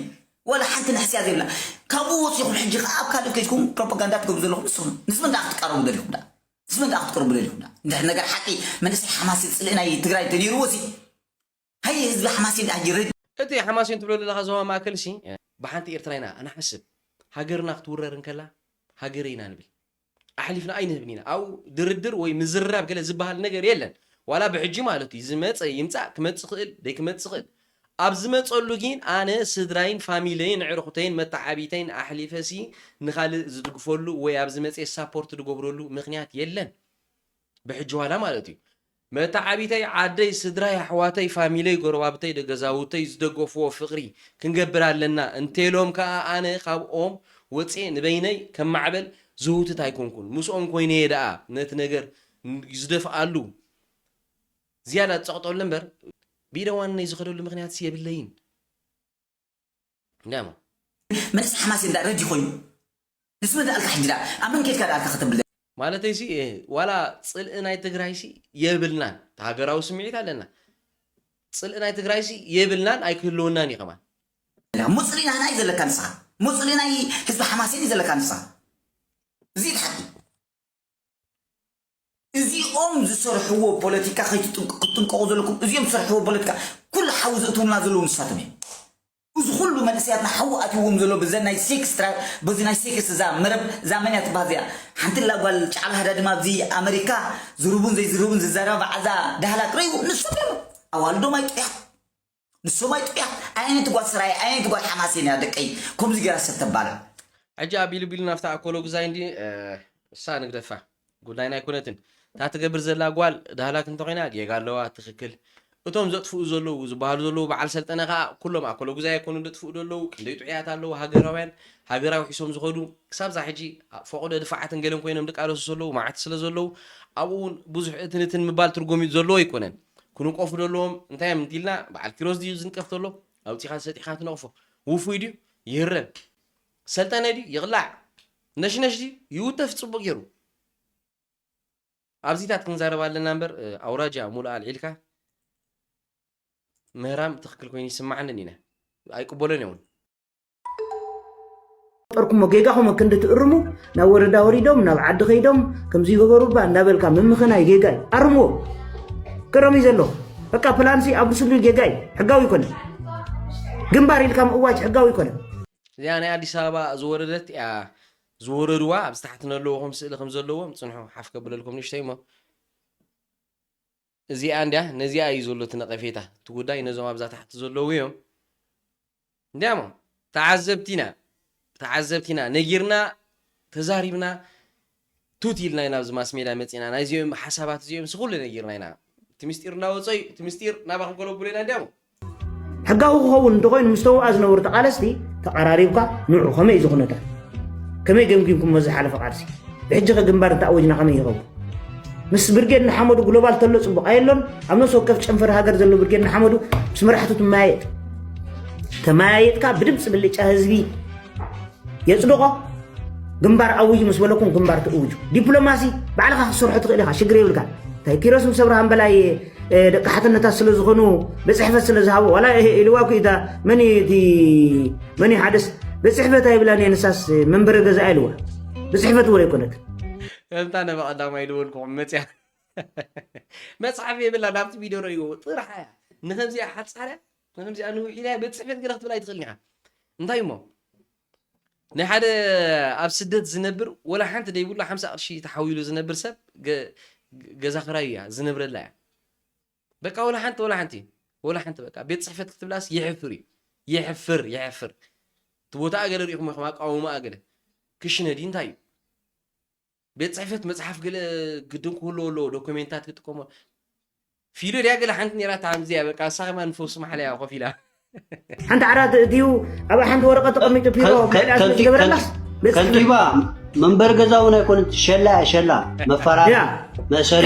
ዋላ ሓንቲ ንሕስያ ዘይብላ ካብኡ ወጺኹም ሕጂ ከኣ ኣብ ካልእ ከይድኩም ፕሮፖጋንዳ ትገብሩ ዘለኹም ንስኹም ንዝመን ደኣ ክትቃረቡ ደሊኹም ደኣ ንዝመን ደኣ ክትቅርቡ ደሊኹም ደኣ እንድሕር ነገር ሓቂ መንእሰይ ሓማሲ ጽልኢ ናይ ትግራይ እንተነይርዎ እዚ ሃየ ህዝቢ ሓማሴን ኣጅርድ። እቲ ሓማሴን ትብሎ ዘለኻ ዞባ ማእከል ሲ ብሓንቲ ኤርትራ ኢና ኣናሓስብ ሃገርና ክትውረር እንከላ ሃገረይ ኢና ንብል ኣሕሊፍና ኣይንህብን ኢና ኣብኡ ድርድር ወይ ምዝርራብ ገለ ዝብሃል ነገር የለን ዋላ ብሕጂ ማለት እዩ ዝመጸ ይምጻእ ክመጽእ ክእል ደይክመጽእ ክእል ኣብ ዝመጸሉ ጊን ኣነ ስድራይን ፋሚለይን ኣዕርኹተይን መታዓቢተይን ኣሕሊፈ ሲ ንኻልእ ዝድግፈሉ ወይ ኣብ ዝመጽኤ ሳፖርት ድገብረሉ ምኽንያት የለን ብሕጂ ዋላ ማለት እዩ መታዓቢተይ ዓደይ ስድራይ ኣሕዋተይ ፋሚለይ ጎረባብተይ ዶ ገዛውተይ ዝደገፍዎ ፍቅሪ ክንገብር ኣለና እንቴሎም ከኣ ኣነ ካብኦም ወጽየ ንበይነይ ከማዕበል ዝህውትት ኣይኮንኩን ምስኦም ኮይነየ ደኣ ነቲ ነገር ዝደፍኣሉ ዝያዳ ዝጸቅጠሉ እምበር ብኢደ ዋንነይ ዝከደሉ ምክንያትሲ የብለይን። ደሞ መልሲ ሓማሴን ድኣ ረጂ ኮይኑ ንሱ መን ድኣልካ ሕጂ ድኣ ኣብ መን ከድካ ድኣልካ ከተብል ደለካ። ማለተይ ሲ ዋላ ጽልኢ ናይ ትግራይ ሲ የብልናን ሃገራዊ ስምዒት ኣለና ጽልኢ ናይ ትግራይ ሲ የብልናን ኣይክህልውናን እዩ ከማን። ደለካ ሙጽሊ ናህና እዩ ዘለካ ንስካ ሙጽሊ ናይ ህዝቢ ሓማሴን እዩ ዘለካ ንስካ እዚ እዩ እቲ ሓቂ። እዚኦም ዝሰርሕዎ ፖለቲካ ክትጥንቀቑ ዘለኩም እዚኦም ዝሰርሕዎ ፖለቲካ ኩሉ ሓዊ ዘእትውና ዘለዉ ንሳቶም እዮም እዚ ኩሉ መንእሰያትና ሓዊ ኣትዎም ዘሎ ብዘ ናይ ሴክስ ትራይ በዚ ናይ ሴክስ እዛ መረብ እዛ መን እያ ትበሃል እዚኣ ሓንቲ ላ ጓል ጫዕላ ሃዳድማ ኣብዚ ኣመሪካ ዝርቡን ዘይዝርቡን ዝዛረባ በዓዛ ዳህላክ ረይዎ ንሶም እዮም ኣዋልዶም ኣይጥያኹ ንሶማይ ጥያ ኣየነይቲ ጓል ሰራየ ኣየነይቲ ጓል ሓማሴን እያ ደቀይ ኮምዚ ገራ ሰብ ተባልዕ። ሕጂ ኣብ ቢሉ ቢሉ ናብታ ኣኮሎጉዛይ እንዲ እሳ ንግደፋ ጉዳይና ኣይኮነትን እታ ትገብር ዘላ ጓል ዳህላክ እንተኮይና ጌጋ ኣለዋ ትክክል እቶም ዘጥፍኡ ዘለዉ ዝባሃሉ ዘለዉ ባዓል ሰልጠነ ካኣ ኩሎም ኣኮሎጉዛይ ኣይኮኑን ድጥፍኡ ደለዉ ክንደይ ጡዕያት ኣለዉ ሃገራውያን ሃገር ኣውሒሶም ዝከዱ ክሳብዛ ሕጂ ፎቆዶ ድፋዓትን ገለን ኮይኖም ድቃለሱ ዘለዉ ማዓት ስለ ዘለዉ ኣብኡ ውን ቡዙሕ እትንትን ምባል ትርጉም ዘለዎ ኣይኮነን። ክንቆፉ ዘለዎም እንታይ እዮም እንዲልና በዓል ኪሮስ ድዩ ዝንቀፍ ተሎ ኣውፂኻ ሰጢኻ ትነቕፎ ውፉይ ድዩ ይህረም ሰልጠነ ድዩ ይቕላዕ ነሽነሽ ድዩ ይውተፍ ፅቡቅ ገይሩ ኣብዚታት ክንዛረብ ኣለና እምበር ኣውራጃ ሙሉእ ኣልዒልካ ምህራም ትኽክል ኮይኑ ይስማዓንን ኢና ኣይቅበሎን እየ እውን ፈጠርኩሞ ጌጋኹም ክንዲ ትእርሙ ናብ ወረዳ ወሪዶም ናብ ዓዲ ከይዶም ከምዚ ገበሩባ እንዳበልካ ምምኽናይ ጌጋ እዩ ኣርምዎ ቅረም እዩ ዘሎ በቃ ፕላንሲ ኣብ ርስሉ ጌጋ እዩ ሕጋዊ ይኮነ ግንባር ኢልካ ምእዋጅ ሕጋዊ ይኮነ እዚኣ ናይ ኣዲስ ኣበባ ዝወረደት እያ ዝወረድዋ ኣብዚ ታሕቲ ነለዎ ከም ስእሊ ከም ዘለዎም ፅንሑ ሓፍ ከብለልኩም ንእሽተይ እሞ እዚኣ እንድያ ነዚኣ እዩ ዘሎ እቲ ነቐፌታ እቲ ጉዳይ ነዞም ኣብዛ ታሕቲ ዘለዉ እዮም እንድያሞ ተዓዘብቲ ኢና ተዓዘብቲ ኢና ነጊርና ተዛሪብና ቱት ኢልና ኢና ኣብዚ ማስሜድያ መጺእና ናይዚኦም ሓሳባት እዚኦምሲ ኩሉ ነጊርና ኢና እቲ ምስጢር እናወጸ እዩ እቲ ምስጢር ናባኹም ከነብሎ ኢና እንድያሞ ሕጋዊ ክኸውን እንተኾይኑ ምስ ተውኣ ዝነበሩ ተቓለስቲ ተቐራሪብካ ንዑ ከመይ እዚ ኩነታት ከመይ ገምጊምኩሞ ዝሓለፈ ቃልሲ ብሕጂ ከ ግንባር እንተኣወጅና ከመይ ይኸውን ምስ ብርጌድ ንሓመዱ ግሎባል ተሎ ፅቡቕ ኣየሎን ኣብ ነፍሲ ወከፍ ጨንፈር ሃገር ዘሎ ብርጌድ ንሓመዱ ምስ መራሕቱ ትመያየጥ ተመያየጥካ ብድምፂ ብልጫ ህዝቢ የፅድቆ ግንባር ኣውጅ ምስ በለኩም ግንባር ትእውጁ ዲፕሎማሲ ባዕልኻ ክትሰርሖ ትኽእል ኢኻ ሽግር የብልካ እንታይ ኪሮስ ምስ ኣብርሃም በላይ ደቂ ሓትነታት ስለ ዝኾኑ ብፅሕፈት ስለ ዝሃቡ ዋላ ኢልዋ ኩ ኢታ መን እቲ መን ሓደስ ብፅሕፈት ኣይብላን እየ ንሳስ መንበረ ገዛ ኢልዋ ብፅሕፈት ወረ ኣይኮነት ከምታ ነበ ቀዳማይ ዝበልኩኹም መፅያ መፅሓፍ የብላ ናብቲ ቪድዮ ረእይዎ ጥራሕ እያ ንከምዚኣ ሓፃርያ ንከምዚኣ ንውሒዳ ብፅሕፈት ገለ ክትብል ኣይትኽእልን ኢኻ እንታይ እሞ ናይ ሓደ ኣብ ስደት ዝነብር ወላ ሓንቲ ደይብሉ ሓምሳ ቅርሺ ተሓዊሉ ዝነብር ሰብ ገዛ ክራይ እያ ዝነብረላ እያ በቃ ወላ ሓንቲ ወላ ሓንቲ ወላ ሓንቲ በቃ ቤት ፅሕፈት ክትብላስ የሕፍር እዩ የሕፍር የሕፍር እቲ ቦታ ኣገለ ሪኢኹም ኢኹም ኣቃውማ ኣገለ ክሽነዲ እንታይ እዩ ቤት ጽሕፈት መጽሓፍ ገለ ግድን ክህልዎ ኣለዎ ዶኩሜንታት ክጥቀሞ ፊሎ ድያ ገለ ሓንቲ ነራ ታምዚ እያ በቃ ንሳ ከማ ንፈውሲ ማሕለ እያ ኮፍ ኢላ ሓንቲ ዓራት እትዩ ኣብ ሓንቲ ወረቐት ተቐሚጡ ፊሎ ዝገበረላስ ከንቲባ መንበሪ ገዛ እውን ኣይኮነት ሸላ እያ ሸላ መፈራርያ መእሰሪ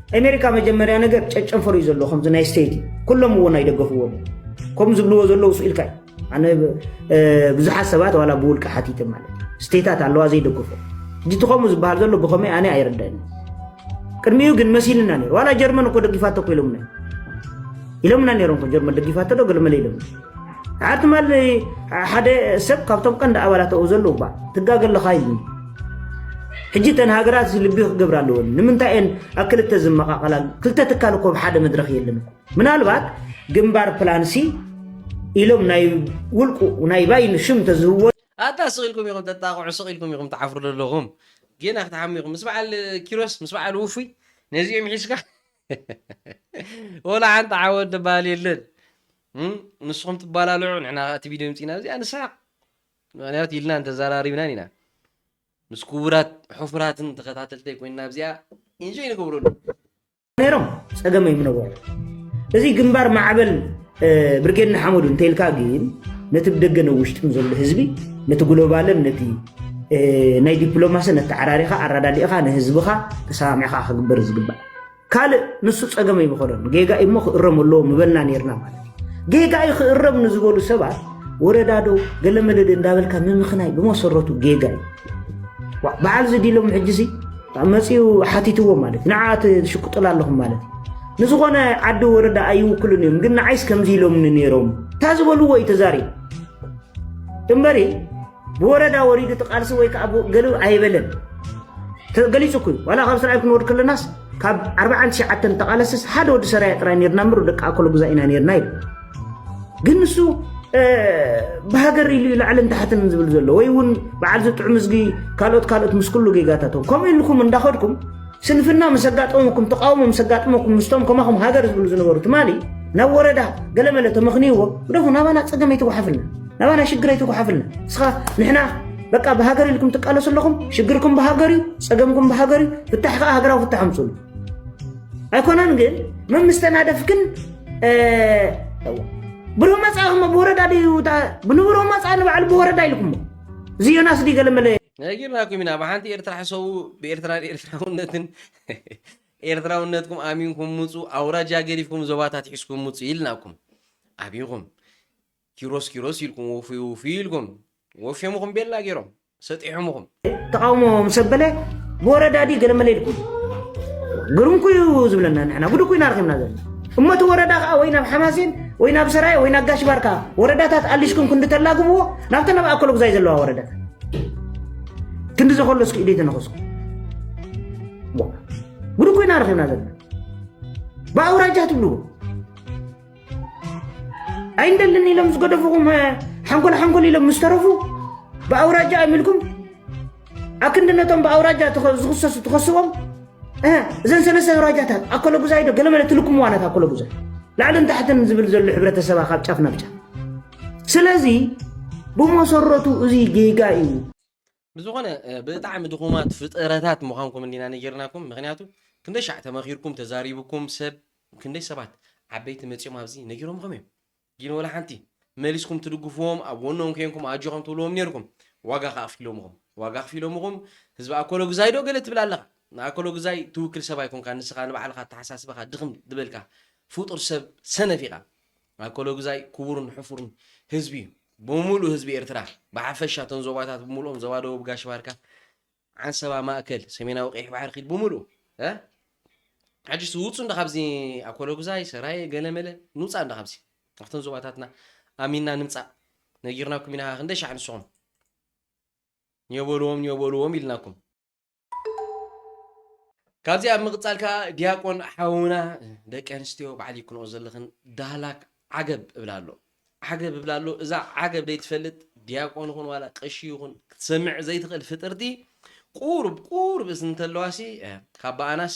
ኤሜሪካ መጀመርያ ነገር ጨጨንፈር እዩ ዘሎ ከምዚ ናይ ስተይቲ ኩሎም እውን ኣይደገፍዎ ከምኡ ዝብልዎ ዘለዉ ሱ ኢልካ ኣነ ብዙሓት ሰባት ዋላ ብውልቂ ሓቲተ ማለት ስተታት ኣለዋ ዘይደገፎ ጅቲ ከምኡ ዝበሃል ዘሎ ብኸመይ ኣነ ኣይረዳእኒ ቅድሚኡ ግን መሲልና ነሩ ዋላ ጀርመን እኮ ደጊፋቶ እኮ ኢሎምና ኢሎምና ነሮም ጀርመን ደጊፋቶ ዶ ገለመለ ኢሎም ዓ ትማሊ ሓደ ሰብ ካብቶም ቀንዲ ኣባላት ኣብኡ ዘለዉ እባ ትጋገ ኣለኻ ኢልኒ ሕጂ እተን ሃገራት ልቢ ክገብራ ኣለወን ንምንታይ እየን ኣብ ክልተ ዝመቃቐላ ክልተ ትካል እኮ ብሓደ መድረኽ የለን ምናልባት ግንባር ፕላንሲ ኢሎም ናይ ውልቁ ናይ ባይኑ ሽም ተዝህዎ ኣታ ስቕ ኢልኩም ኢኹም ተጣቕዑ ስቕ ኢልኩም ኢኹም ትሓፍሩ ዘለኹም ጌና ክትሓሙ ኢኹም ምስ በዓል ኪሮስ ምስ በዓል ውፉይ ነዚኦም ሒዝካ ወላ ሓንቲ ዓወት ድበሃል የለን እም ንስኹም ትባላልዑ ንሕና ከኣ ቲቪ ድምጺ ኢና እዚኣ ንስሓቅ ምክንያቱ ኢልናን ተዛራሪብናን ኢና ምስ ክቡራት ሕፉራትን ተኸታተልተይ ኮይንና ኣብዚኣ ኢንጆይ ንገብረሉ ነይሮም ጸገም እዩ ምነበሩ እዚ ግንባር ማዕበል ብርጌድ ንሓመዱ እንተይልካ ግን ነቲ ብደገ ነውሽጥን ዘሎ ህዝቢ ነቲ ግሎባልን ነቲ ናይ ዲፕሎማሲ ነተዓራሪኻ ኣረዳዲእኻ ንህዝብኻ ተሰማሚዕኻ ክግበር ዝግባእ ካልእ ንሱ ጸገም ኣይምኾነን ጌጋ እሞ ክእረም ኣለዎ ምበልና ነርና ማለት እዩ ጌጋ እዩ ክእረም ንዝበሉ ሰባት ወረዳዶ ገለ መለደ እንዳበልካ ምምኽናይ ብመሰረቱ ጌጋ እዩ በዓል እዚ ዲሎም ሕጅዚ መፅኡ ሓቲትዎ ማለት ንዓት ሽቁጥል ኣለኹም ማለት እዩ ንዝኾነ ዓዲ ወረዳ ኣይውክሉን እዮም ግን ንዓይስ ከምዚ ኢሎምኒ ነይሮም እንታ ዝበልዎ እዩ ተዛሪብ እምበሪ ብወረዳ ወሪዱ እቲ ቃልሲ ወይ ከዓ ገሉ ኣይበለን ተገሊፁ እኮ እዩ ዋላ ካብ እስራኤል ክንወርድ ከለናስ ካብ ዓርባዓን ትሽዓተን ተቓለስስ ሓደ ወዲ ሰራያ ጥራይ ነርና ምሩ ደቂ ኣኮሎ ጉዛ ኢና ነርና ኢሉ ግን ንሱ ብሃገር ኢሉ ላዕልን ታሕትን ዝብል ዘሎ ወይ እውን በዓል ዝጥዑም እዝጊ ካልኦት ካልኦት ምስ ኩሉ ጌጋታቶም ከምኡ ኢልኩም እንዳኸድኩም ስንፍና ምስ ኣጋጠመኩም ተቓውሞ ምስ ኣጋጠመኩም ምስቶም ከማኹም ሃገር ዝብሉ ዝነበሩ ትማሊ ናብ ወረዳ ገለመለ ተመኽንይዎ ግደፉ ናባና ፀገም ኣይትጓሓፍልና ናባና ሽግር ኣይትጓሓፍልና እስኻ ንሕና በቃ ብሃገር ኢልኩም ትቃለሱ ኣለኹም ሽግርኩም ብሃገር እዩ ፀገምኩም ብሃገር እዩ ፍታሕ ከዓ ሃገራዊ ፍታሕ ኣምፅሉ ኣይኮነን ግን መምስተናደፍክን ብሩህ መፃእኹሞ ብወረዳ ድዩ ብንብሩህ መፃእ ንባዕሉ ብወረዳ ኢልኩሞ እዚ ዮናስ ድዩ ገለመለ ነጊርናኩም ኢና ብሓንቲ ኤርትራ ሕሰቡ ብኤርትራን ኤርትራውነትን ኤርትራውነትኩም ኣሚንኩም ምፁ ኣውራጃ ገዲፍኩም ዞባታት ሒዝኩም ምፁ ኢልናኩም ኣቢኹም ኪሮስ ኪሮስ ኢልኩም ወፍዩ ወፍዩ ኢልኩም ወፍዮምኹም ቤላ ገይሮም ሰጢሖምኹም ተቃውሞ ምስ ኣበለ ብወረዳዲ ገለመለ ኢልኩም ግርምኩ እዩ ዝብለና ንሕና ጉዱ ኩና ረኪብና ዘለና እሞ እቲ ወረዳ ከዓ ወይ ናብ ሓማሴን ወይ ናብ ሰራየ ወይ ናብ ጋሽ ባርካ ወረዳታት ኣሊሽኩም ክንዲ ተላግብዎ ናብተን ኣብ ኣኮሎጉዛይ ዘለዋ ወረዳታት ክንዲ ዘኸሎ እስኪ ኢደይ ተነኸሱ ጉድ ኮይና ረኺብና ዘለና ብኣውራጃ ትብልዎ ኣይንደልን ኢሎም ዝገደፉኹም ሓንጎል ሓንጎል ኢሎም ምስ ተረፉ ብኣውራጃ ኣይምልኩም ኣክንዲ ነቶም ብኣውራጃ ዝኽሰሱ ትኸስዎም እዘን ሰለስተ ኣውራጃታት ኣኮሎ ጉዛይ ዶ ገለመለ ትልኩም ዋናት ኣኮሎ ጉዛይ ላዕልን ታሕትን ዝብል ዘሎ ሕብረተሰባ ካብ ጫፍ ናብ ጫፍ ስለዚ ብመሰረቱ እዚ ጌጋ እዩ ብዝኾነ ብጣዕሚ ድኹማት ፍጥረታት ምዃንኩም እንዲና ነጊርናኩም ምክንያቱ ክንደይ ሻዕ ተመኺርኩም ተዛሪብኩም ሰብ ክንደይ ሰባት ዓበይቲ መፂኦም ኣብዚ ነጊሮምኹም እዮም ግን ወላ ሓንቲ መሊስኩም ትድግፍዎም ኣብ ጎኖም ኮንኩም ኣጆኹም ትብልዎም ነርኩም ዋጋ ከዓ ኣኽፊሎምኹም ዋጋ ኣኽፊሎምኹም ህዝቢ ኣኮሎ ግዛይ ዶ ገለ ትብል ኣለኻ ንኣኮሎ ግዛይ ትውክል ሰብ ኣይኮንካ ንስኻ ንባዕልኻ ኣተሓሳስበኻ ድኽም ዝበልካ ፍጡር ሰብ ሰነፍ ኢኻ ኣኮሎጉዛይ ኩቡርን ሑፉርን ህዝቢ እዩ ብሙሉኡ ህዝቢ ኤርትራ ብሓፈሻ እተን ዞባታት ብሙሉኦም ዞባ ደቡብ ጋሽ ባርካ ዓንሰባ ማእከል ሰሜናዊ ቀይሕ ባሕሪ ኪድ ብሙሉኡ እ ሕጂ ውጹ እንዳ ካብዚ ኣኮሎጉዛይ ሰራየ ገለመለ ንውጻእ እንዳ ካብዚ ኣብተን ዞባታትና ኣሚንና ንምጻእ ነጊርናኩም ኢና ክንደይ ሻዕ ንስኹም ኒዮ በልዎም ኒዮ በልዎም ኢልናኩም ካብዚ ኣብ ምቕጻል ከኣ ዲያቆን ሓውና ደቂ ኣንስትዮ በዓል ይኩንኦ ዘለኽን ዳህላክ ዓገብ እብል ኣሎ ዓገብ እብል ኣሎ እዛ ዓገብ ዘይትፈልጥ ዲያቆን ይኹን ዋላ ቀሺ ይኹን ክትሰምዕ ዘይትኽእል ፍጥርቲ ቁሩብ ቁሩብ እዝኒ እንተለዋሲ ካብ በኣናስ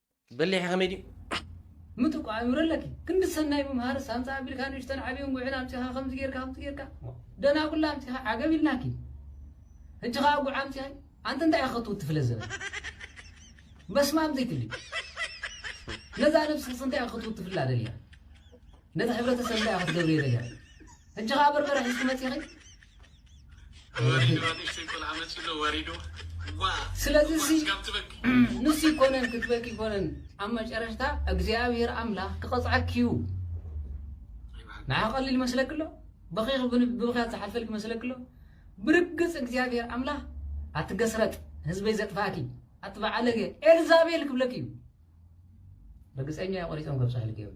በሊሕ ከመይ ድዩ? ምጡቅ ኣእምሮ ኣለኪ ክንዲ ሰናይ ምምሃር ሳንጻ ኣቢልካ ንእሽቶን ዓብዩን ጉዕን ኣምጺኻ ከምዚ ጌርካ ከምዚ ጌርካ ደናጉላ ኣምጺኻ ዓገብ ኢልናኪ ሕጂ ከኣ ጉዕ ኣምጺኻ ኣንቲ እንታይ ኢኺ ክትውቲ ፍለ ዝበለ በስማም ዘይትብሊ ነዛ ነብስኽስ እንታይ ኢኺ ክትውትፍላ ደሊኻ ነቲ ሕብረተሰብ እንታይ ኢኺ ክትገብርዮ ደሊኺ ሕጂ ከኣ በርበረ ሒዝኪ መጺኺ ስለዚ እዚ ንሱ ኣይኮነን ክትበኪ ኣይኮነን ኣብ መጨረሽታ እግዚኣብሄር ኣምላኽ ክቐጽዓኪ እዩ። ንዓ ቀሊል ይመስለኪ ኣሎ በኺኺ ብምኽንያት ዝሓልፈልኪ ይመስለኪ ኣሎ ብርግጽ እግዚኣብሄር ኣምላኽ ኣቲ ገስረጥ ህዝበይ ዘጥፋእኪ ኣቲ በዓለገ ኤልዛቤል ክብለኪ እዩ። ርግጸኛ እየ ቆሪጾም ከብጽሕልኪ እዮም።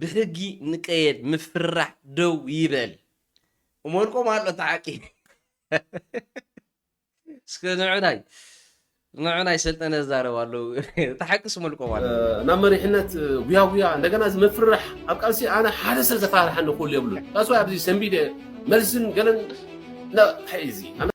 ብሕጊ ንቀየድ ምፍርራሕ ደው ይበል። እሞልቆም ኣሎ እቲ ሓቂ እስከ ንዑናይ ንዑናይ ሰልጠነ ዝዛረቡ ኣለዉ እቲ ሓቂ ስሞልቆም ኣሎ ናብ መሪሕነት ጉያ ጉያ እንደገና እዚ ምፍርራሕ ኣብ ቃልሲ ኣነ ሓደ ሰብ ዘፋርሓኒ ክህሉ የብሉን ዳስዋይ ኣብዚ ሰንቢደ መልስን ገለን እንታይ እዩ እዚ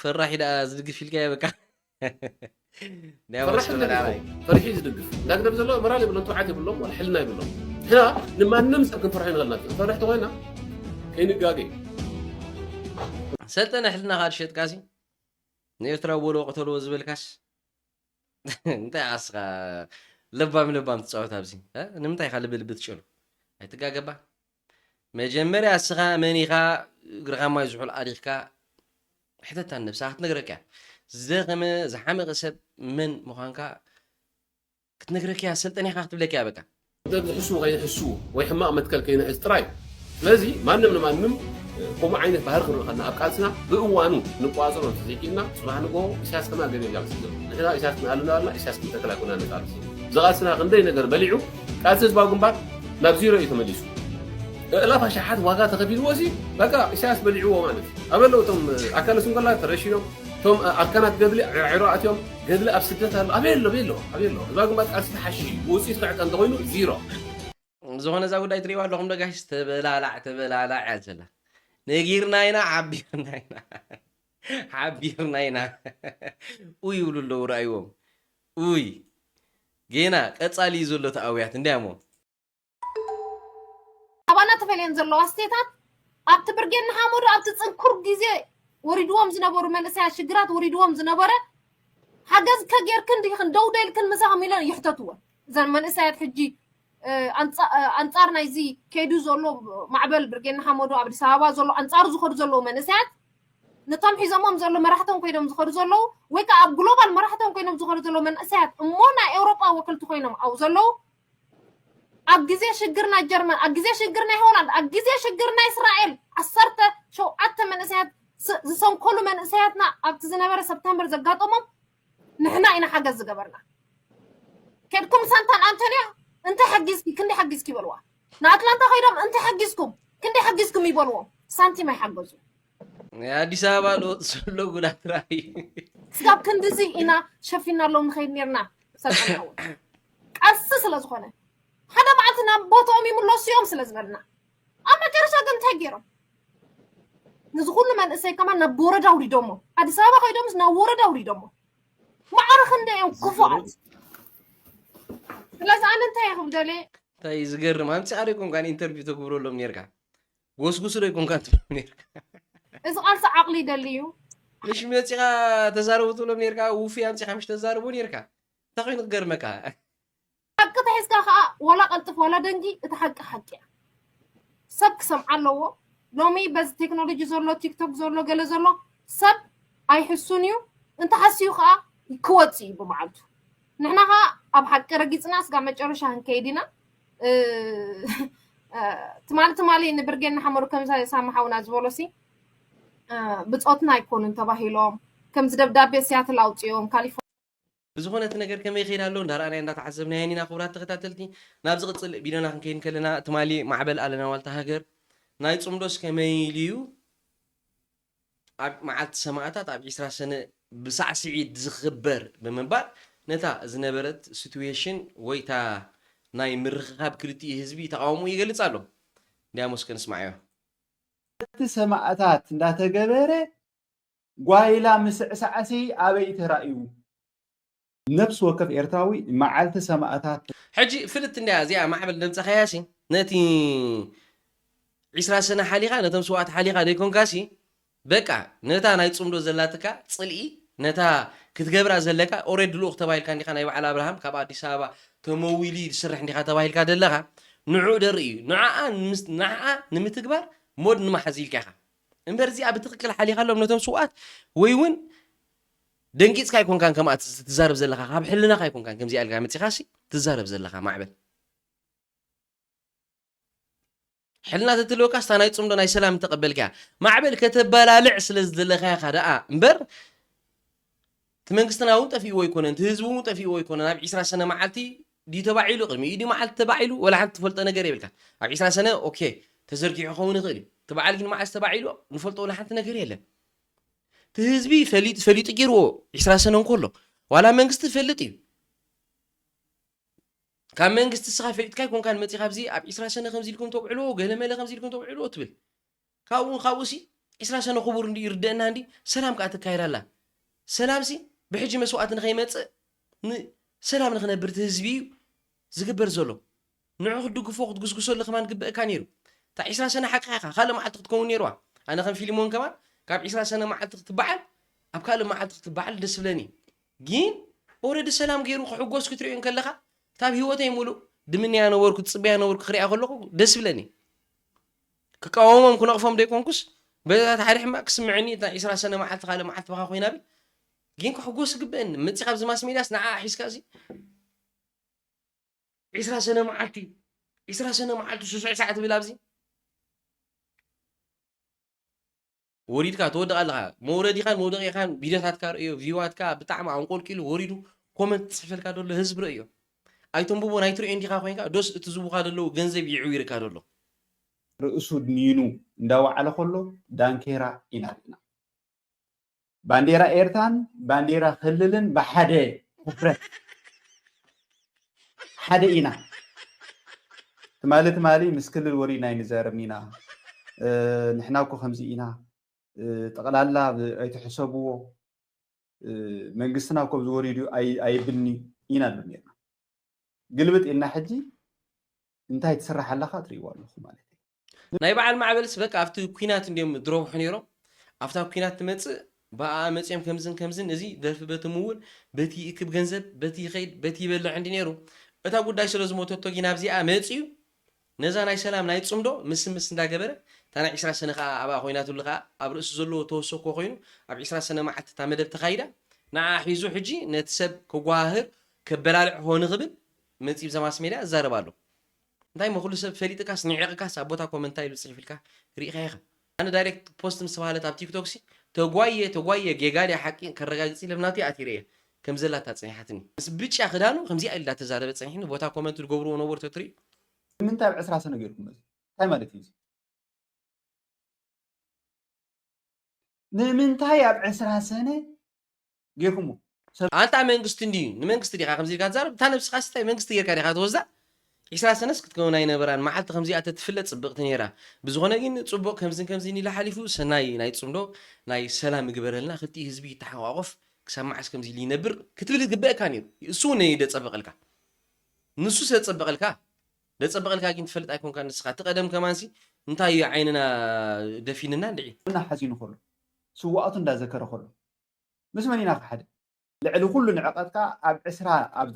ፈራሒ ደኣ ዝድግፍ ኢልካዮ በቃ ናይ ፈራሕ ኣዋሽ ዝደግፍ ተበላባይ እዩ። ፈሪሒ እዩ ዝድግፍ ዳግደብ ዘለዎ ምራል የብሎም ትብዓት የብሎም ዋላ ሕልና የብሎም ሕና ንማንም ሰብ ክንፈርሖ ንኽእልና ፈርሕቲ ኮይና ከይንጋገ እዩ ሰልጠነ ሕልናኻ ድሸጥካሲ ንኤርትራ በሎ ቅተልዎ ዝበልካስ እንታይ ኣስኻ ለባም ለባም ትጻወት ኣብዚ እ? ንምንታይ ኢኻ ልቢ ልቢ ትጭሩ ኣይትጋገባ መጀመርያ እስኻ መን ኢኻ እግርኻ ማይ ዝሑል ኣሪኽካ ሕተታ ንነብሳ ክትነግረካ እያ ዝደኸመ ዝሓመቐ ሰብ መን ምዃንካ ክትነግረካ እያ ሰልጠነ ኢኻ ክትብለካ እያ በቃ እቶም ዝሕስዉ ከይሕስዉ ወይ ሕማቕ መትከል ከይንሕዝ ጥራይ እዩ። ስለዚ ማንም ንማንም ከምኡ ዓይነት ባህሪ ክንርኢ ከለና ኣብ ቃልስና ብእዋኑ ንቆጻጸሮ እንተዘይኪኢልና ጽባሕ ንግሆ ኢሳያስ ከማን ገቢር ቃልሲ ይገብር። ንሕና ኢሳያስ ክንኣሉ እንዳበልና ኢሳያስ ክንተክል ኣይኮናን ንቃልስ። እዚ ቃልስና ክንደይ ነገር በሊዑ ቃልሲ ህዝባዊ ግንባር ናብ ዚሮ እዩ ተመሊሱ። ኣእላፍ ኣሽሓት ዋጋ ተኸፊልዎሲ በቃ ኢሳያስ በሊዕዎ ማለት እዩ። ኣበይ ኣለዉ እቶም ኣካለ ስንኩላት ተረሺኖም፣ እቶም ኣርካናት ገድሊ ዒርዒሮ ኣትዮም፣ ገድሊ ኣብ ስደት ኣሎ ኣበይ ኣሎ ኣበይ ኣሎ ኣበይ ኣሎ ህዝባዊ ግንባር ቃልሲ ተሓሽዩ እዩ ብውፅኢቱ ክዕቀ እንተኾይኑ ዚሮ ዝኾነ እዛ ጉዳይ ትሪእዋ ኣለኹም ደጋሽ ተበላላዕ ተበላላዕ እያ ዘላ ነጊርና ኢና ሓቢርና ኢና ሓቢርና ኢና ኡይ ይብሉ ኣለዉ ረኣይዎም ኡይ ጌና ቀፃሊ እዩ ዘሎ ተኣውያት እንዲያ እሞ ካባና ተፈልየን ዘለዋ ስቴታት ኣብቲ ብርጌድ ንሓመዱ ኣብቲ ፅንኩር ግዜ ወሪድዎም ዝነበሩ መንእሰያት ሽግራት ወሪድዎም ዝነበረ ሓገዝ ከጌርክን ዲኽን ደው ደልክን ምሳኹም ኢለን ይሕተትወን እዘን መንእሰያት ሕጂ ኣንጻር ናይዚ ከይዱ ዘሎ ማዕበል ብርጌድ ንሓመዱ ኣብ ኣዲስ ኣበባ ዘሎ ኣንጻሩ ዝኸዱ ዘለዉ መንእሰያት ነቶም ሒዞሞም ዘሎ መራሕቶም ኮይኖም ዝኸዱ ዘለዉ ወይ ከዓ ኣብ ግሎባል መራሕቶም ኮይኖም ዝኸዱ ዘለዉ መንእሰያት እሞ ናይ ኤውሮጳ ወከልቲ ኮይኖም ኣብኡ ዘለዉ ኣብ ግዜ ሽግር ናይ ጀርመን ኣብ ግዜ ሽግር ናይ ሆላንድ ኣብ ግዜ ሽግር ናይ እስራኤል ዓሰርተ ሸውዓተ መንእሰያት ዝሰንከሉ መንእሰያትና ኣብቲ ዝነበረ ሰብተምበር ዘጋጠሞም ንሕና ኢና ሓገዝ ዝገበርና ከድኩም ሳንታን ኣንቶንዮ እንታይ ሓጊዝኪ ክንደይ ሓጊዝኪ ይበልዋ ንኣትላንታ ከይዶም እንታይ ሓጊዝኩም ክንደይ ሓጊዝኩም ይበልዎም ሳንቲም ኣይሓገዙ ናይ ኣዲስ ኣበባ ለውጢ ዘሎ ጉዳት ራእይ ስጋብ ክንድዚ ኢና ሸፊናሎም ንኸይድ ነርና ሰልጠናውን ቀርሲ ስለ ዝኾነ ሓደ መዓልቲ ናብ ቦትኦም ይምለሱ እዮም ስለ ዝበልና ኣብ መጨረሻ ግን እንታይ ገይሮም ነዚ ኩሉ መንእሰይ ከማ ናብ ወረዳ ውሪዶሞ ኣዲስ ኣበባ ከይዶምስ ናብ ወረዳ ውሪዶሞ ማዕረ ክንደ እዮም ክፉኣት ስለዚ ኣነ እንታይ ይኽብ ደልየ እንታይ ዝገርም ኣምፂ ኣሪኩም ኳን ኢንተርቪው ተግብረሎም ነርካ ጎስጉሱ ዶ ይኮንካ ትብሎም ኔርካ እዚ ቃልሲ ዓቕሊ ይደሊ እዩ ምሽ መጺኻ ተዛረቡ ትብሎም ኔርካ ውፉይ ኣምጺኻ ምሽ ተዛረቡ ኔርካ እንታይ ኮይኑ ክገርመካ ሓቂ ተሒዝካ ከዓ ዋላ ቀልጥፍ ዋላ ደንጊ እቲ ሓቂ ሓቂ እያ ሰብ ክሰምዓ ኣለዎ ሎሚ በዚ ቴክኖሎጂ ዘሎ ቲክቶክ ዘሎ ገለ ዘሎ ሰብ ኣይሕሱን እዩ እንተሓስዩ ከዓ ክወፅ እዩ ብመዓልቱ ንሕና ከዓ ኣብ ሓቂ ረጊፅና ስጋ መጨረሻ ክንከይድ ኢና ትማሊ ትማሊ ንብርጌድ ንሓመዱ ከምዛ ሳሚ ሓውና ዝበሎ ሲ ብፆትና ኣይኮኑን ተባሂሎም ከምዚ ደብዳቤ ሲያትል ኣውፅኦም ካሊፎ ብዝኾነ እቲ ነገር ከመይ ይኸይድ ኣሎ እንዳረኣናዮ እንዳተዓዘብናዮን ኢና ክቡራት ተኸታተልቲ ናብ ዝቕፅል ቪድዮና ክንከይድ ከለና ትማሊ ማዕበል ኣለና ዋልታ ሃገር ናይ ፅምዶስ ከመይ ኢሉ እዩ ኣብ መዓልቲ ሰማእታት ኣብ ዕስራ ሰነ ብሳዕስዒት ዝኽበር ብምባል ነታ ዝነበረት ስቱዌሽን ወይ እታ ናይ ምርኽኻብ ክልቲኡ ህዝቢ ተቓውሞኡ ይገልጽ ኣሎ። እንድያም እስከ ንስማዕዮ። መዓልቲ ሰማእታት እንዳተገበረ ጓይላ ምስዕሳዕሲ ኣበይ ተራእዩ? ነብሲ ወከፍ ኤርትራዊ መዓልቲ ሰማእታት። ሕጂ ፍልጥቲ እንድያ እዚኣ ማዕበል ደንጸኻያሲ ነቲ ዕስራ ሰነ ሓሊኻ ነቶም ስውኣት ሓሊኻ ደይኮንካሲ በቃ ነታ ናይ ጽምዶ ዘላትካ ጽልኢ ነታ ክትገብራ ዘለካ ኦሬዲ ልኡኽ ተባሂልካ እንዲኻ ናይ በዓል ኣብርሃም ካብ ኣዲስ ኣበባ ተመዊሉ እዩ ዝስርሕ እንዲኻ ተባሂልካ ደለኻ ንዕኡ ደርኢ እዩ ንዓኣ ንዓኣ ንምትግባር ሞድ ንመሓዝ ኢልካ ኢኻ እምበር እዚኣ ብትኽክል ሓሊኻሎም ነቶም ስውኣት ወይ ውን ደንጊጽካ ኣይኮንካን ከምኣ ትዛረብ ዘለኻ ካብ ሕልናኻ ኣይኮንካን ከምዚኣ ኢልካ መጺኻሲ ትዛረብ ዘለኻ ማዕበል ሕልና ተትልወካ ስታ ናይ ፅምዶ ናይ ሰላም ተቐበልካ ማዕበል ከተበላልዕ ስለ ዝደለኻኻ ደኣ እምበር እቲ መንግስትና እውን ጠፊእዎ ኣይኮነን እቲ ህዝቢ እውን ጠፊእዎ ኣይኮነን ኣብ ዒስራ ሰነ መዓልቲ ድዩ ተባዒሉ ቅድሚ እዩ ድዩ መዓልቲ ተባዒሉ ወላ ሓንቲ ትፈልጦ ነገር የብልካ ኣብ ዒስራ ሰነ ኦኬ ተዘርጊሑ ክኸውን ይኽእል እዩ እቲ በዓል ግን መዓስ ተባዒሉ ንፈልጦ ወላ ሓንቲ ነገር የለን እቲ ህዝቢ ፈሊጡ ፈሊጡ ጌርዎ ዒስራ ሰነ እንከሎ ዋላ መንግስቲ ይፈልጥ እዩ ካብ መንግስቲ እስኻ ፈሊጥካ ይኮንካን መፂ ካብዚ ኣብ ዒስራ ሰነ ከምዚ ኢልኩም ተውዕልዎ ገለመለ ከምዚ ኢልኩም ተውዕልዎ ትብል ካብኡ ካብኡ ሲ ዒስራ ሰነ ክቡር እንዲ ይርደአና እንዲ ሰላም ከዓ ትካየድ ኣላ ሰላም ሲ ብሕጂ መስዋእቲ ንኸይመፅእ ሰላም ንክነብር እቲ ህዝቢ እዩ ዝግበር ዘሎ ንዑ ክትድግፎ ክትጉስጉሰሉ ከማን ግበእካ ነይሩ እታ ዕስራ ሰነ ሓቅካ ኢካ ካልእ መዓልቲ ክትከውን ነይርዋ ኣነ ከም ፊሊሞን ከማን ካብ ዕስራ ሰነ መዓልቲ ክትበዓል ኣብ ካልእ መዓልቲ ክትበዓል ደስ ብለኒ ግን ኦረዲ ሰላም ገይሩ ክሕጎስ ክትሪኦ ከለካ እታ ኣብ ሂወተይ ሙሉእ ድምንያ ነበርኩ ትጽበያ ነበርኩ ክሪኣ ከለኩ ደስ ብለኒ ክቃወሞም ክነቕፎም ደይኮንኩስ በዛ ሓደ ሕማቅ ክስምዐኒ እታ ዕስራ ሰነ መዓልቲ ካልእ መዓልቲ በካ ኮይና ብል ግን ክሕጎስ ግበእኒ መጺ ካብዚ ማስ ሜድያስ ንዓ ሒዝካ እዚ ዒስራ ሰነ መዓልቲ ዒስራ ሰነ መዓልቲ ስሱዕ ሳዕ ትብል ኣብዚ ወሪድካ ትወድቕ ኣለኻ መውረዲኻን መውደቂኻን ቪድዮታትካ ርእዮ ቪዋትካ ብጣዕሚ ኣንቆልቂሉ ወሪዱ ኮመንት ትፅሕፈልካ ደሎ ህዝቢ ርእዮ ኣይተንብቦ ናይ ትርእዮ እንዲኻ ኮይንካ ዶስ እቲ ዝቡኻ ደለዉ ገንዘብ ይዕዊርካ ደሎ ርእሱ ድኒኑ እንዳወዓለ ከሎ ዳንኬራ ኢና ሪእና። ባንዴራ ኤርትራን ባንዴራ ክልልን ብሓደ ሕፍረት ሓደ ኢና ትማሊ ትማሊ ምስ ክልል ወሪድና ኣይንዛረብን ኢና ንሕና እኮ ከምዚ ኢና ጠቕላላ ኣይትሕሰብዎ መንግስትና እኮ ዝወሪዱ ኣይብልኒ ኢና ንብል ነርና ግልብጥ ኢልና ሕጂ እንታይ ትስራሕ ኣለካ ትሪእዎ ኣለኹ ማለት እዩ ናይ በዓል ማዕበልስ በቃ ኣብቲ ኩናት እንድዮም ድረብሑ ነይሮም ኣብታ ኩናት ትመጽእ ብኣኣ መጽዮም ከምዝን ከምዝን እዚ ደርፊ በቲ ምውል በቲ ይእክብ ገንዘብ በቲ ይኸይድ በቲ ይበልዕ እንዲ ነይሩ እታ ጉዳይ ስለ ዝሞተቶ ጊን ኣብዚኣ መጽዩ ነዛ ናይ ሰላም ናይ ጽምዶ ምስ ምስ እንዳገበረ እታ ናይ ዕስራ ሰነ ከኣ ኣብኣ ኮይናትሉ ከኣ ኣብ ርእሲ ዘለዎ ተወሰኮ ኮይኑ ኣብ ዕስራ ሰነ መዓልቲ እታ መደብ ተኻይዳ ንዓኣ ሒዙ ሕጂ ነቲ ሰብ ከጓሃህር ከበላልዕ ሆን ኽብል መጽዩ ብዛ ማስ ሜድያ እዛረብ ኣሎ እንታይ እሞ ኩሉ ሰብ ፈሊጥካስ ኒዒቅካስ ኣብ ቦታ ኮመንት እንታይ ኢሉ ጽሒፍልካ ሪኢካ ኢካ ኣነ ዳይሬክት ፖስት ምስ ተባህለት ኣብ ቲክቶክ ሲ ተጓየ ተጓየ ጌጋ ድያ ሓቂ ከረጋግጽ ኢለ ብ ናተይ ኣትየ ሪኤያ ከም ዘላታ ጸኒሓትኒ ምስ ብጫ ክዳኑ ከምዚኣ ኢሉ ዳተዛረበ ጸኒሕኒ ቦታ ኮመንት ድገብርዎ ነበሩ ተትሪኡ ንምንታይ ኣብ ዕስራ ሰነ ጌርኩሞ እዚ እንታይ ማለት እዩ እዚ ንምንታይ ኣብ ዕስራ ሰነ ጌርኩሞ ሰብ። ኣንታ መንግስቲ እንድዩ ንመንግስቲ ዲኻ ከምዚ ኢልካ ትዛረብ እታ ነብስኻስ እንታይ መንግስቲ ጌርካ ዲኻ ትወስዳ ዒስራ ሰነስ ክትከውን ኣይነበራን መዓልቲ ከምዚኣ ተትፍለጥ ጽብቅቲ ኔራ ብዝኾነ ግን ጽቡቅ ከምዝን ከምዝን ኢሉ ሓሊፉ ሰናይ ናይ ጽምዶ ናይ ሰላም ይግበረልና ክልቲኡ ህዝቢ ይተሓቋቆፍ ክሳብ መዓስ ከምዚ ኢሉ ይነብር ክትብል ይግበእካ ኔሩ እሱ ውን ኣዩ ደጸበቀልካ ንሱ ስለ ዝጸበቀልካ ደጸበቀልካ ግን ትፈልጥ ኣይኮንካን ንስኻ እቲ ቀደም ከማንሲ እንታይ እዩ ዓይንና ደፊንና እንድዒ። ቡና ሓዚኑ ከሎ ስውኣቱ እንዳዘከረ ከሎ ምስ መን ኢና ክሓደ? ልዕሊ ኩሉ ንዕቀት ከኣ ኣብ ዕስራ ኣብ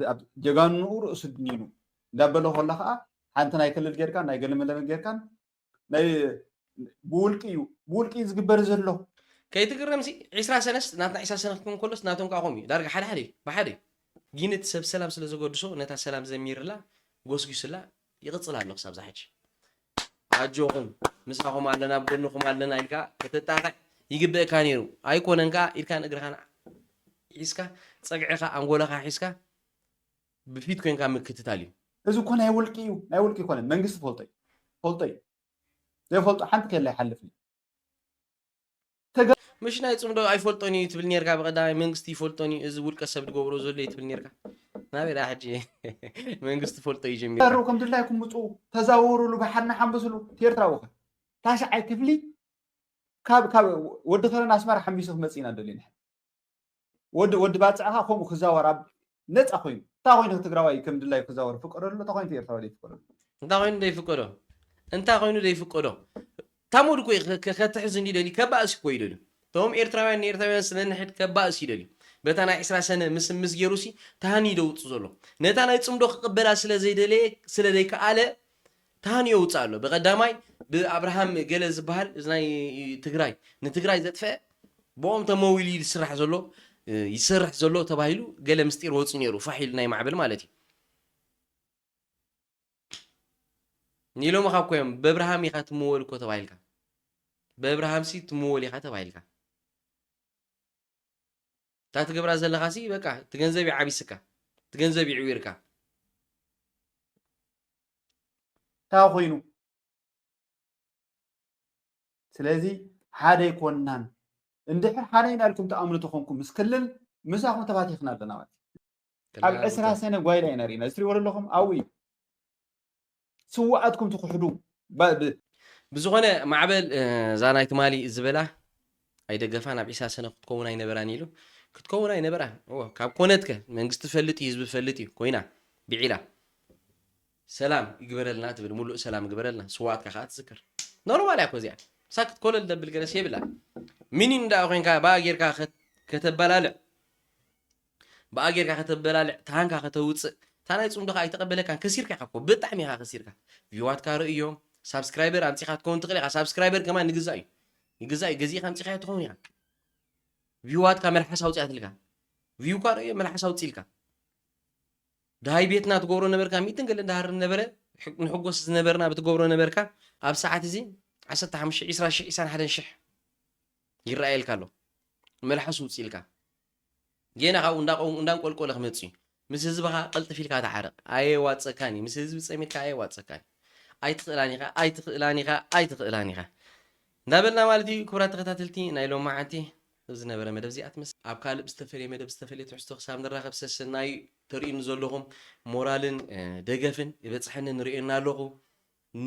ጀጋኑኡ ርእሱ ድኒኑ እንዳበለ ከሎ ከኣ ሓንቲ ናይ ክልል ጌርካን ናይ ገለመለመ ጌርካን ናይ ብውልቂ እዩ ብውልቂ እዩ ዝግበር ዘሎ። ከይትግረምሲ ዕስራ ሰነስ ናትና ዕስራ ሰነ ክትከውን ከሎስ ናቶም ከኣ ከምኡ እዩ ዳርጋ ሓደ ሓደ እዩ ብሓደ እዩ። ጊን እቲ ሰብ ሰላም ስለ ዘገድሶ ነታ ሰላም ዘሚርላ ጎስጒሱላ ይቅጽል ኣሎ ክሳብ እዛ ሕጂ። ኣጆኹም ምሳኹም ኣለና ኣብ ጎንኹም ኣለና ኢልካ ክትጣቕዕ ይግበእካ ነይሩ ኣይኮነን ከኣ ኢድካን እግርኻን ሒዝካ ጸግዕኻ ኣንጎለኻ ሒዝካ ብፊት ኮንካ ምክትታል እዩ። እዚ እኮ ናይ ውልቂ እዩ ናይ ውልቂ ይኮነ መንግስቲ ፈልጦ እዩ ፈልጦ እዩ ዘይፈልጦ ሓንቲ ከላ ይሓልፍ እዩ ምሽ ናይ ጽምዶ ኣይፈልጦን እዩ ትብል ኔርካ ብቀዳማይ መንግስቲ ይፈልጦን እዩ እዚ ውልቀ ሰብ ዝገብሮ ዘሎ እዩ ትብል ኔርካ ናበይ ዳ ሕጂ መንግስቲ ፈልጦ እዩ ጀሚሩ ተሩ ከም ድላይኩም ምጹ ተዛወሩሉ ብሓና ሓምብስሉ ቴርትራዊ ከ ታሽዓይ ክፍሊ ካብ ካብ ወዲ ከረን ኣስመራ ሓምቢሱ ክመጽእ ኢና ደልዩ ንሕና ወዲ ወዲ ባጽዕኻ ከምኡ ክዛወር ኣብ ነጻ ኮይኑ እንታይ ኮይኑ ትግራዋይ ከም ድላዩ ክዛወር ፍቀዶ ኣሎ እንታይ ኮይኑ ኤርትራዊ ዘይፍቀዶ እንታይ ኮይኑ ዘይፍቀዶ እንታይ ኮይኑ ዘይፍቀዶ ታሞድ ኮይ ከተሕዝን ይደልዩ ከባእስ እኮ ይደልዩ እቶም ኤርትራውያን ንኤርትራውያን ስለ ንሕድ ከባእስ ይደልዩ በታ ናይ ዕስራ ሰነ ምስ ምስ ገይሩሲ ተሃኒ ደውፅ ዘሎ ነታ ናይ ፅምዶ ክቕበላ ስለ ዘይደለየ ስለ ዘይከኣለ ተሃንዮ ውጻእ ኣሎ ብቀዳማይ ብኣብርሃም ገለ ዝባሃል እዚ ናይ ትግራይ ንትግራይ ዘጥፈዐ ብኦም ተመዊሉ እዩ ዝስራሕ ዘሎ ይሰርሕ ዘሎ ተባሂሉ ገለ ምስጢር ወጽዩ ነይሩ ፋሕ ኢሉ ናይ ማዕበል ማለት እዩ ኒሎም እኻ እኮ እዮም በብርሃም ኢኻ ትምወል እኮ ተባሂልካ በብርሃምሲ ትምወል ኢኻ ተባሂልካ እታ ትገብራ ዘለካ ሲ በቃ እቲ ገንዘብ እዩ ዓቢስካ እቲ ገንዘብ እዩ ዕዊርካ እንታይ ኮይኑ ስለዚ ሓደ ኣይኮንናን እንድሕር ሓደ ኢና ኢልኩም ትኣምኑ ተኾንኩም ምስ ክልል ምሳኹም ተባቲኽና ኣለና ማለት እዩ ኣብ ዕስራ ሰነ ጓይላ ኢና ርኢና ዝትሪእዎ ዘለኹም ኣብኡ እዩ ስዋኣትኩም ትኽሕዱ ብዝኾነ ማዕበል እዛ ናይ ትማሊ ዝበላ ኣይደገፋን ኣብ ዒሳ ሰነ ክትከውን ኣይነበራን ኢሉ ክትከውን ኣይነበራን እዎ ካብ ኮነትከ መንግስቲ ዝፈልጥ እዩ ህዝቢ ዝፈልጥ እዩ ኮይና ብዒላ ሰላም ይግበረልና ትብል ሙሉእ ሰላም ይግበረልና ስዋኣትካ ከዓ ትዝክር ኖርማል እያ ኮ እዚኣ ሳክት ኮለል ደብል ገለስ የብላ ሚኒን እንዳ ኮንካ ባ ጌርካ ከተበላልዕ ብኣ ጌርካ ከተበላልዕ ታንካ ከተውጽእ እታ ናይ ጽምዶኻ ኣይተቀበለካን ከሲርካ ኢኻ እኮ ብጣዕሚ ኢኻ ከሲርካ ቪዋትካ ርእዮ ሳብስክራይበር ኣምጺኻ ትከውን ትኽእል ኢኻ ሳብስክራይበር ከማን ንግዛእ እዩ ንግዛእ እዩ ገዚእኻ ኣምጺኻዮ ትኸውን ኢኻ ቪዋትካ መልሓስ ኣውጽኣትልካ ቪውካ ርእዮ መልሓስ ኣውጽኢልካ ድሃይ ቤትና ትገብሮ ነበርካ ሚትን ገለ እንዳሃር ነበረ ንሕጎስ ዝነበርና ብትገብሮ ነበርካ ኣብ ሰዓት እዚ 15 20 21 ሽሕ ይረኣየልካ ኣሎ መልሓስ ውጽኢልካ ጌና ካብኡ እንዳቀው እንዳንቆልቆለ ክመጽእ እዩ ምስ ህዝብኻ ቅልጥፍ ኢልካ ተዓረቅ ኣየዋጽኣካን እዩ ምስ ህዝቢ ጸሚድካ ኣየዋጽኣካን እዩ ኣይትኽእላን ኢኻ ኣይትኽእላን ኢኻ ኣይትኽእላን ኢኻ እንዳበልና ማለት እዩ ክቡራት ተኸታተልቲ ናይ ሎማዓንቲ እዚ ዝነበረ መደብ እዚኣ ትመስል ኣብ ካልእ ብዝተፈለየ መደብ ዝተፈለየ ትሕዝቶ ክሳብ ንራኸብ ሰሰናዩ ተርእዩኒ ዘለኹም ሞራልን ደገፍን ይበጽሐኒ ንርእየና ኣለኹ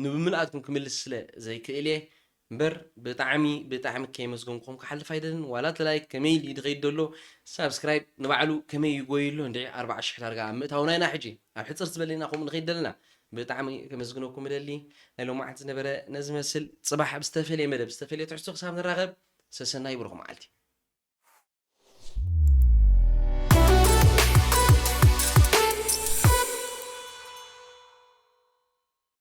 ንብምልኣትኩም ክምልስ ስለ ዘይክእል እየ እምበር ብጣዕሚ ብጣዕሚ ከየመስገንኩኹም ክሓልፍ ኣይደልን ዋላ እቲ ላይክ ከመይ ኢሉ ይኸይድ ዶ ኣሎ ሳብስክራይብ ንባዕሉ ከመይ ይጎይ ኣሎ እንድዒ ኣርብዓ ሽሕ ዳርጋ ኣብ ምእታውና ኢና ሕጂ ኣብ ሕጽር ዝበለ ኢና ከምኡ ንኸይድ ደለና ብጣዕሚ ከመስግነኩም እደሊ ናይ ሎማዓንቲ ዝነበረ ነዚ መስል ጽባሕ ብ ዝተፈልየ መደብ ዝተፈልየ ትሕዝቶ ክሳብ ንራኸብ ሰሰናዩ ብሩኽ መዓልቲ።